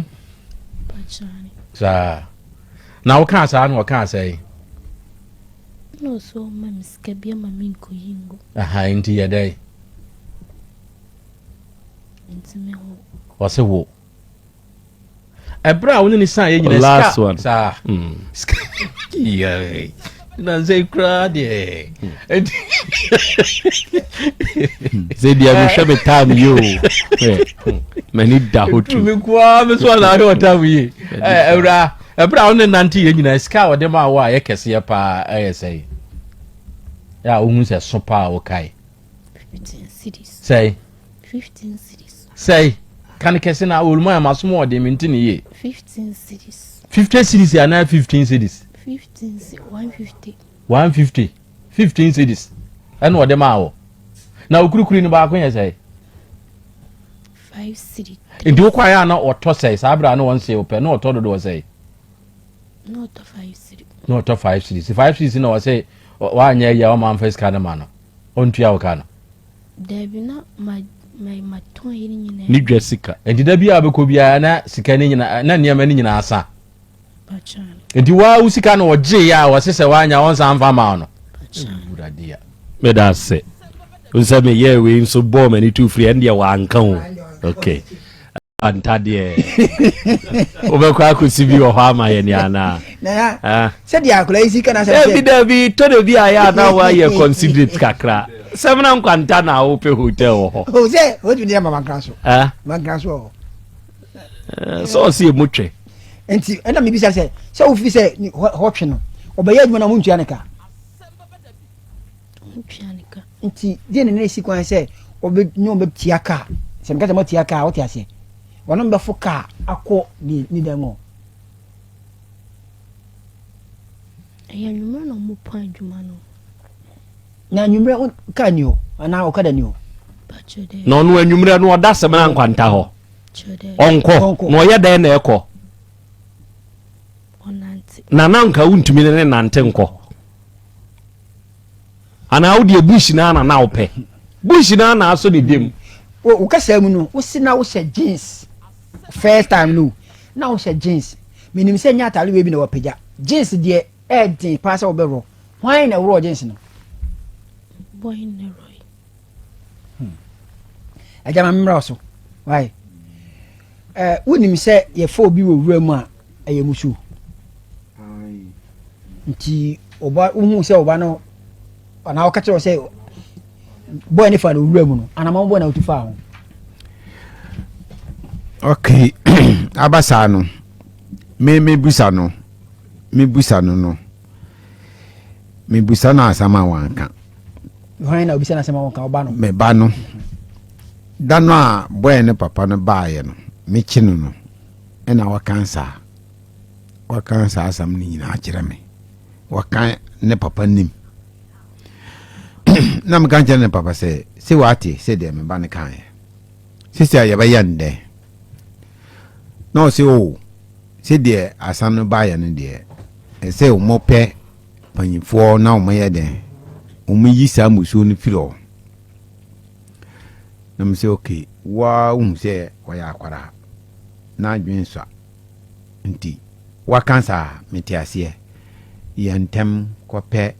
saa na wokaa saa na ɔkaa sɛe aha nti yɛ dɛn ɔse wo ɛberɛ a wo ne ne san yɛ nyina last one saa hmm. na nsɛ koraa deɛ sɛ deɛ mehwɛ me tam yi o m'ani da hɔ tu me koaa me so anaa hwɛ ɔtam yi ɛwura ɛberɛ a wo ne nante yɛ nyina sika a wɔde ma wo a yɛ kɛseɛ paa ɛyɛ sɛe yɛ a wohu sɛ so paa wokae sɛe sɛe kane kɛse na wɔlum ayɛ masom wɔ ɔde mente ne yie 50 series anaa 15 series 150 15 series ɛna ɔde maa wɔ na okurukuri no baako yɛ sɛe nti wokɔ ayɛ a na ɔtɔ sɛe saa berɛ a na wɔnsee wo pɛ na ɔtɔ dodoɔ sɛe na ɔtɔ five series five series na ɔsɛ wanyɛ yɛ ɔma mfa sika no ma no ɔntua wo ka no. Dabi na ma ma ma tɔn yɛ ne nyinaa. Ne dwa sika nti da bi a ɔbɛkɔ biara na sika ne nyinaa na nneɛma ne nyinaa sa. Nti waa wo sika no ɔgye yɛ a wɔse sɛ wanya ɔnsan mfa ma no. Wurade ya. Meda ase. Nsɛ meyɛɛ wei nso bɔɔ m'ani tu firi ɛndeɛ wanka o. Okay. ntadeɛ wobɛkɔ akɔsi bi wɔ hɔ ama yɛne anaa ah. sɛdeɛ akora yi sika nasɛbi daabi tɔ da bi a yɛ ana woayɛ considerate kakra sɛm na nkwanta na wopɛ hotel wɔ hɔ oh, sɛ wotumi de ama mankra so ah. mankra so wɔ eh, sɛ ɔse ɛmu twɛ nti ɛna mebisa sɛ sɛ wofi sɛ hɔtwe no ɔbɛyɛ adwuma no montua ne ka Ɔntua ne ka. Nti deɛ ne nɛsi kwan sɛ ɔbɛ ne ɔbɛ tia ka. Sɛ meka sɛ mo tia ka, ɔte aseɛ. Wɔn ɔbɛ fo ka akɔ ne ne dan mu. Ɛyɛ nwummerɛ na ɔmo pɔn adwuma no. Na nwummerɛ ka ni hɔ anaa ɔkada ni hɔ. Na ɔno anwummerɛ no ɔda sɛm na nkwanta hɔ. Ɔnkɔ na ɔyɛ dɛn na ɛkɔ. ɔnante. Na na nka wontumi ne ne nante nkɔ. Anaa wo deɛ bush naa na na wopɛ. Bush naa na asɔ ne dam. Wo kasa mu no, wo se na wohyɛ jeans first time no, na wohyɛ jeans. Menim sɛ nyɛ atare wei bi na wapagya. Jeans deɛ ɛɛden paa sɛ wobɛworɔ. Hwan na ɛworɔɔ jeans no? Boy Neroy. Hmm. Agya ma mmra so. Why? Eh, wonim sɛ yɛfa obi wɔ wura mu a, ɛyɛ musu. Nti, ɔba, wohu sɛ ɔba no, anaa ɔka kyerɛ sɛ, bɔɔ ne fa no wura mu no, anamɔ bɔɔ na wotu fa ho. Okay, aba saa no, me me busa no, me busa no no. mebisa no asɛm a wanka hwan na obisa no asɛm a wanka ɔba no meba no da no a bɔɛ ne papa no baeɛ no mekye no no ɛna wakan saa wakan saa asɛm no nyinaa kyerɛ me wakan ne papa nim na meka nkyerɛ ne papa sɛ sɛ wate sɛ deɛ meba no kaeɛ sisi a yɛbɛyɛ ndɛn Na ɔse, O, sedeɛ asan no baeɛ no deɛ, ɛsɛ wɔpɛ mpanyinfoɔ na wɔyɛ dɛn? Wɔyi saa musuo no firi hɔ. Na mo sɛ, ok, woa wohu sɛ ɔyɛ akwadaa, na adwene nsua, nti woaka saa, mete aseɛ, yɛ ntɛm kɔpɛ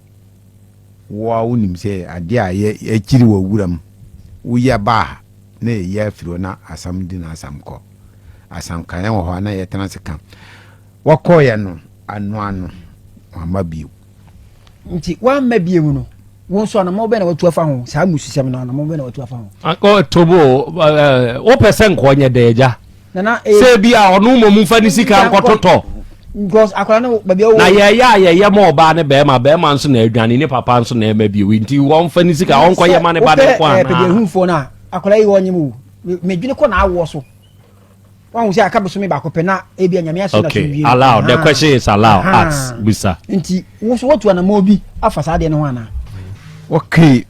Wo ara wunim sɛ ade a ɛyɛ akyiri wɔ wuram, woyɛ ba a na yɛyɛ afiri hɔ na asam di na asam kɔ. Asankanyan wɔ hɔ a na yɛtena ase ka. Wɔkɔeɛ no, anoa no, wamma bio. Nti wamma bio no, wo nso anammɔn bɛn na watu afa ho? Saa mmususɛm no, anammɔn bɛn na watu afa ho? Ɔtobo, wopɛ sɛ nka ɔnyɛ dɛn, agya? sɛ ebia ɔno mmom mfa ne sika nkɔtotɔ na yɛyɛ a yɛyɛ ma ɔbaa ne bɛrima bɛrima nso na adwane ne papa nso na ɛma bio nti wɔmfa ne sika ɔnkɔyɛ ma ne ba ne nkɔ anaa wọn sɛ aka bosome baako pɛ na ebi anyame ahyɛ na so wie allow the question is allow ask bisa nti woso wotu anamɔ bi afa saa deɛ no ho anaa okay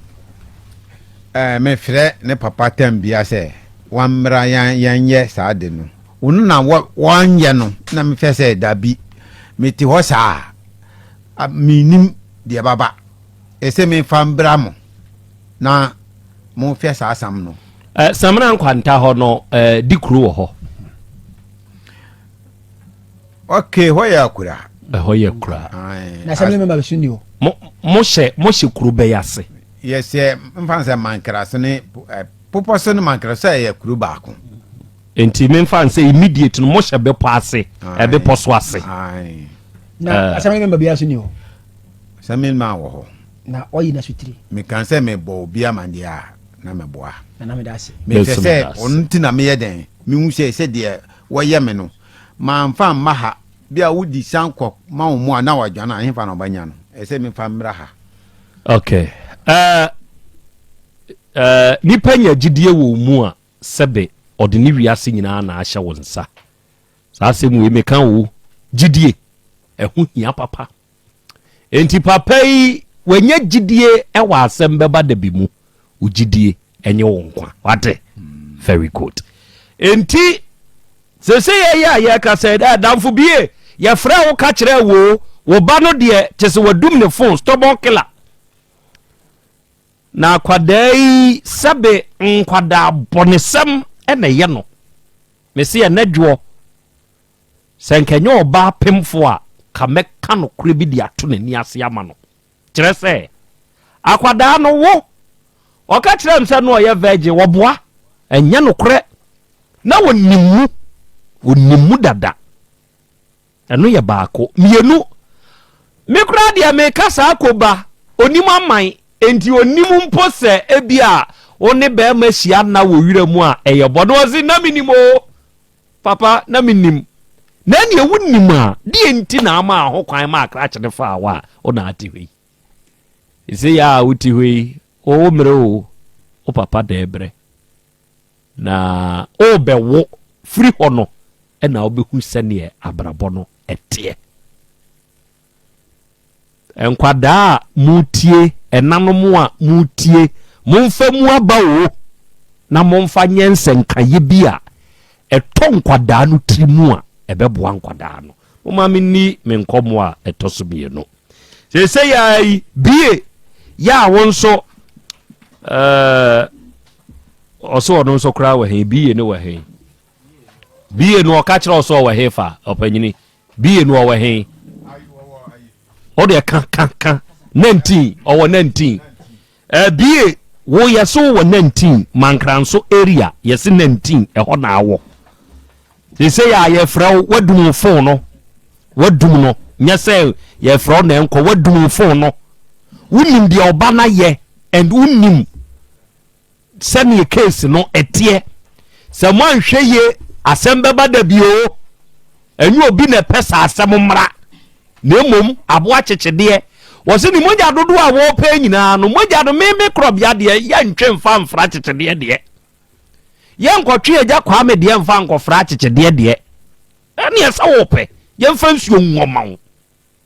ɛɛ eh, mefrɛ ne papa tam bia sɛ Wammra yɛn yɛnyɛ saa ade no. Wo no na wɔ, wɔnyɛ no, na mehwɛ sɛ dabi. Mete hɔ saa a, mennim deɛ ɛbaba. Ese memfa mbra mo, na monhwɛ saa sam no. Eh, Samina nkwanta hɔ no, eh, di kuro wɔ hɔ. Okay, hɔ yɛ akura. Ɛhɔ yɛ kura. Na sɛ mmarima bɛso ni hɔ. Mo mo hyɛ mo hyɛ kuro bɛyɛ ase. Yɛsɛ mfa sɛ mankrase ne eh, Bepɔ ase no mankra sɛ ɛyɛ kuro baako. Nti memfa nsɛ immediate no mohyɛ bepɔ ase ɛbepɔ so ase. Na eh. asɛm no mɛma biara so ni hɔ. Asɛm no mɛma wɔ hɔ. Na ɔyi na so tiri. Meka sɛ mebɔ obi amadeɛ a na meboa. Na na meda ase. Mehwɛ sɛ ɔno ti na meyɛ dɛn mehu sɛ sɛ deɛ wɔyɛ me no mamfa mma ha bi a wodi san kɔ ma wo mu a na wadwane a hefa na ɔbɛnya no ɛsɛ mefa mmra ha. Okay. Uh, Nnipa nya gyidie wɔ wo mu a, sɛbe ɔde ne wiase nyinaa na ahyɛ wo nsa. Saa asɛm wei meka oo, gyidie, ɛho hia papa. Enti papa yi, wanya gyidie wɔ asɛm bɛba da bi mu. Wo gyidie ɛnyɛ wo nkwa. Wate? Very good. Enti, sese yɛyɛ a yɛka sɛ, dɛ damfo bie, yɛfrɛ wo ka kyerɛ wo, wo ba no deɛ, kyɛ sɛ wadum ne phone, stubborn killer. Na akwadaa yi sɛbe nkwadaa bɔnesɛm na ɛyɛ no. Mese ɛnɛ dwoɔ, sɛ nka ɛnyɛ ɔbaa pemfoɔ a, ka mɛka nokorɛ bi de ato n'ani ase ama no. Kyerɛ sɛ, akwadaa no wo, ɔka kyerɛ me sɛ na ɔyɛ virgin, wɔboa, ɛnyɛ nokorɛ. Na ɔnim mu, ɔnim mu dada. Ɛno yɛ baako. Mmienu, me koraa deɛ meka saa koba, ɔnim aman, enti ɔnnim mpo sɛ ebia wo ne barima hyia nna wɔ wira mu a, ɛyɛ bɔ. Na ɔse, na menim o, papa, na menim. Na ɛneɛ wonim a, deɛ nti na amaa ho kwan maa krakye no faa wo a wo na ate hɔ yi? Sesei a wote hɔ yi, wo wo mmerɛ o, wo papa da ɛberɛ. Na worebɛwo firi hɔ no na wobɛhu sɛdeɛ abrabɔ no teɛ. Nkwadaa a motie, ɛnanom a motie, momfa mu aba o na momfa nyɛ nsɛnkaeɛ bi a ɛtɔ nkwadaa no tiri mu a ɛbɛboa nkwadaa no. Moma menni me nkɔmmoɔ a ɛtɔ so mmienu. Seesei ara yi, bie yɛ a wo nso ɛɛ ɔso ɔno nso koraa wɔ he bie no wɔ he bie no ɔka kyerɛ ɔso ɔwɔ he fa ɔpanyini bie no ɔwɔ he ɔdeɛ ka ka ka nantin ɔwɔ nantin Abie wo yɛse wo wɔ nantin mankranso area yɛse nantin ɛhɔ na awɔ sesei a yɛfrɛ wo wadum wo fon no wadum no nyɛ sɛ yɛfrɛ wo na ɛnkɔ wadum wo fon no wonim deɛ ɔba no ayɛ and wonim sɛneɛ case no ɛteɛ sɛ moanhwɛ yie asɛm bɛba da bio Ɛnyɛ obi na ɛpɛ saa asɛm mmra, na mmom aboa kyekyedeɛ. Wɔse ne mogya dodoɔ a wɔpɛ nyinaa no, mogya no meme korɔbea deɛ, yɛntwe mfa mfra kyekyedeɛ deɛ. Yɛnkɔtwe Agya Kwame deɛ mfa nkɔfra kyekyedeɛ deɛ. Ɛneɛ sɛ wopɛ, yɛmfa nsuo ngu ɔma wo.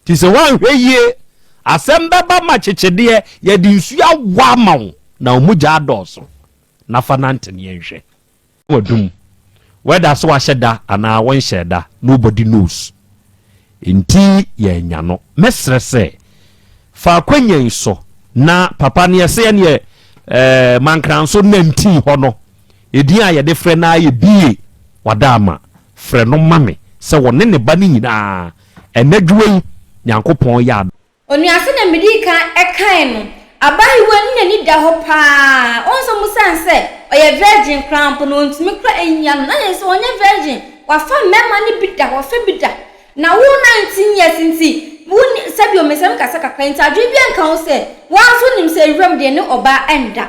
Nti sɛ woanhwɛ yie, asɛm bɛba ma kyekyedeɛ, yɛde nsuo awɔ ama wo, na wo mogya adɔɔso. Na fa nante ne yɛnhwɛ. w'adum. Wɛda sɛ wahyɛ da anaa wonhyɛɛ da, nobody knows. Enti yɛanya no. Mɛsrɛ sɛ fa akwanya yi so na papa neɛ sɛ ɛneɛ eh, Mankranso nantin hɔ no, edin a yɛde frɛ no ara yɛ Bie Wadaama. Frɛ no ma me sɛ wɔne ne ba no nyinaa ɛnadwoa yi Nyankopɔn yɛ adom. Onua, sɛnea midii kan kae no, abaayewa no n'ani da hɔ paa. Wohu sɛ, osiane sɛ ɔyɛ virgin koraa mpo no, ontumi kora nyia no. Na kyerɛ sɛ ɔnyɛ virgin, wafa mmarima no bi da, wafa bi da. Na wo nineteen years nti, wonni, sɛdeɛ ɔmesɛm kasa kakra nti, adwene biara nka ho sɛ, wo ara nso wonim sɛ wuram deɛ ne ɔbaa nda.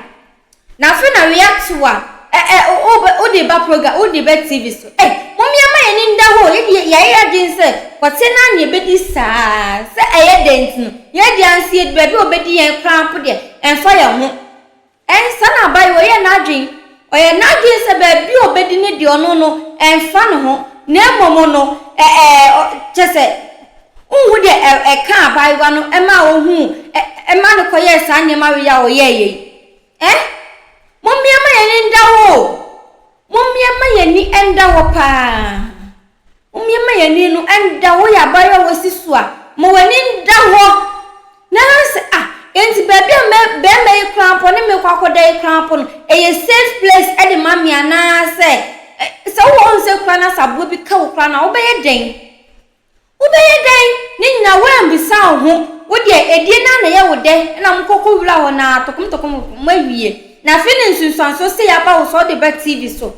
Na afei na wea to a, ɛ ɛ o o bɛ wode reba program, wode reba TV so. Ei, mom yɛmma yɛn ani nda hɔ o, yɛn de yɛ yɛayɛ yɛn adwene sɛ kɔteɛ no ara na yɛbɛdi saa ara, sɛ ɛyɛ dɛn nti no, yɛn deɛ ansi yɛdu baabi a wɔbɛdi yɛn koraa mpo deɛ, ɛmfa yɛn ho. Ɛn, saa na abayewa yi yɛ n'adwene. Ɔyɛ n'adwene sɛ baabi a ɔbɛdi no deɛ ɔno no, ɛmfa ne ho, na mmom no, ɛ ɛ ɔ kyerɛ sɛ, Wonhu deɛ ɛ, ɛkaa abaayewa no maa ɔhuu ɛ, ɛmaa no kɔyɛɛ saa nneɛma wei a ɔyɛeɛ yi? Ɛ? Mommea ma yɛn ani nda hɔ o! Mommea ma yɛn ani nda hɔ pa ara. Mommea ma yɛn ani no nda hɔ. Woyɛ abaayewa a woasi so a, ma w'ani nda hɔ. Na ɛha no sɛ, ah, enti baabi a mɛ, barima yi koraa mpo, ɔne me rekɔ akɔda yi koraa mpo no, ɛyɛ safe place de ma me anaasɛ, ɛ, sɛ wowɔ hɔ nsɛ koraa na sɛ aboa bi ka wo koraa no a, wobɛyɛ dɛn? Wobɛyɛ dɛn ne nyina woammbisa wo ho, wo deɛ adie no ara na yɛ wo dɛ na mo kɔ kɔ wura hɔ no ara tokom tokom mo awie na afei na nsunsuansoɔ sei aba wo so ɔde ba TV so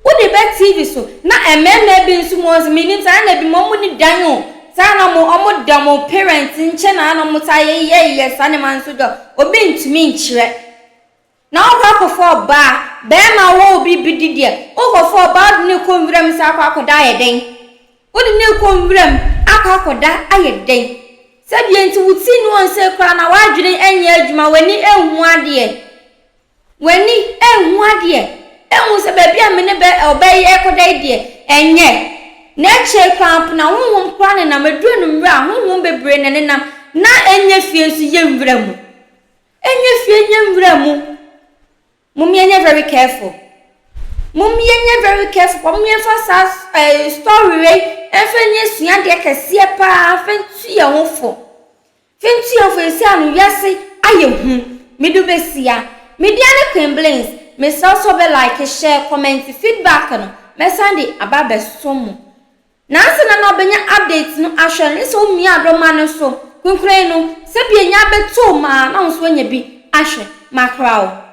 wode ba TV so na mmɛɛma bi nso mo nso mennim saa na binom ɔmo nni dan o saa na ɔmo ɔmo da ɔmo parents nkyɛn na na ɔmo taa yɛ yɛ yɛ saa nneɛma nso deɛ obi ntumi nkyerɛ. Na ɔkɔ akɔfa ɔbaa bɛɛma a ɔwɔ obi bi de deɛ ɔkɔfa ɔbaa ɔde no rekɔ nwiram sɛ akɔ akɔda ayɛ dɛn? Wode no rekɔ nwiram akɔ akɔda ayɛ dɛn? Sɛ deɛ nti wo ti nni wɔn sei koraa na w'adwene ɛnyɛ adwuma, w'ani ɛnhu adeɛ, w'ani ɛnhu adeɛ ɛnhu sɛ baabi a me ne bɛ ɔbaa yi ɛrekɔda yi deɛ ɛnyɛ, na akyire koraa mpo na honhom koraa nenam, ɛduru anwummerɛ a honhom bebree na ɛnenam na ɛnyɛ fie nso yɛ nwura mu. Ɛnyɛ fie ɛnyɛ nwura mu mom yɛnyɛ very careful mom yɛnyɛ very careful paa mom yɛmfa saa eh, story wei ɛmfa nyɛ suadeɛ kɛseɛ paa mfa ntu yɛn ho fo fa ntu yɛn fo ɛsi ano wiase ayɛ hu medu bɛsia media ne Queen Blings mesrɛ sɛ ɔbɛ like share comment feedback no mɛsan de aba abɛsom mo Nansa na na ɔbɛnya update no ahwɛ no sɛ womiaa dɔ ma no so. Kunkunayi no, sɛ bi anya abɛtoo ma na wo nso woanya bi ahwɛ. Makora wo.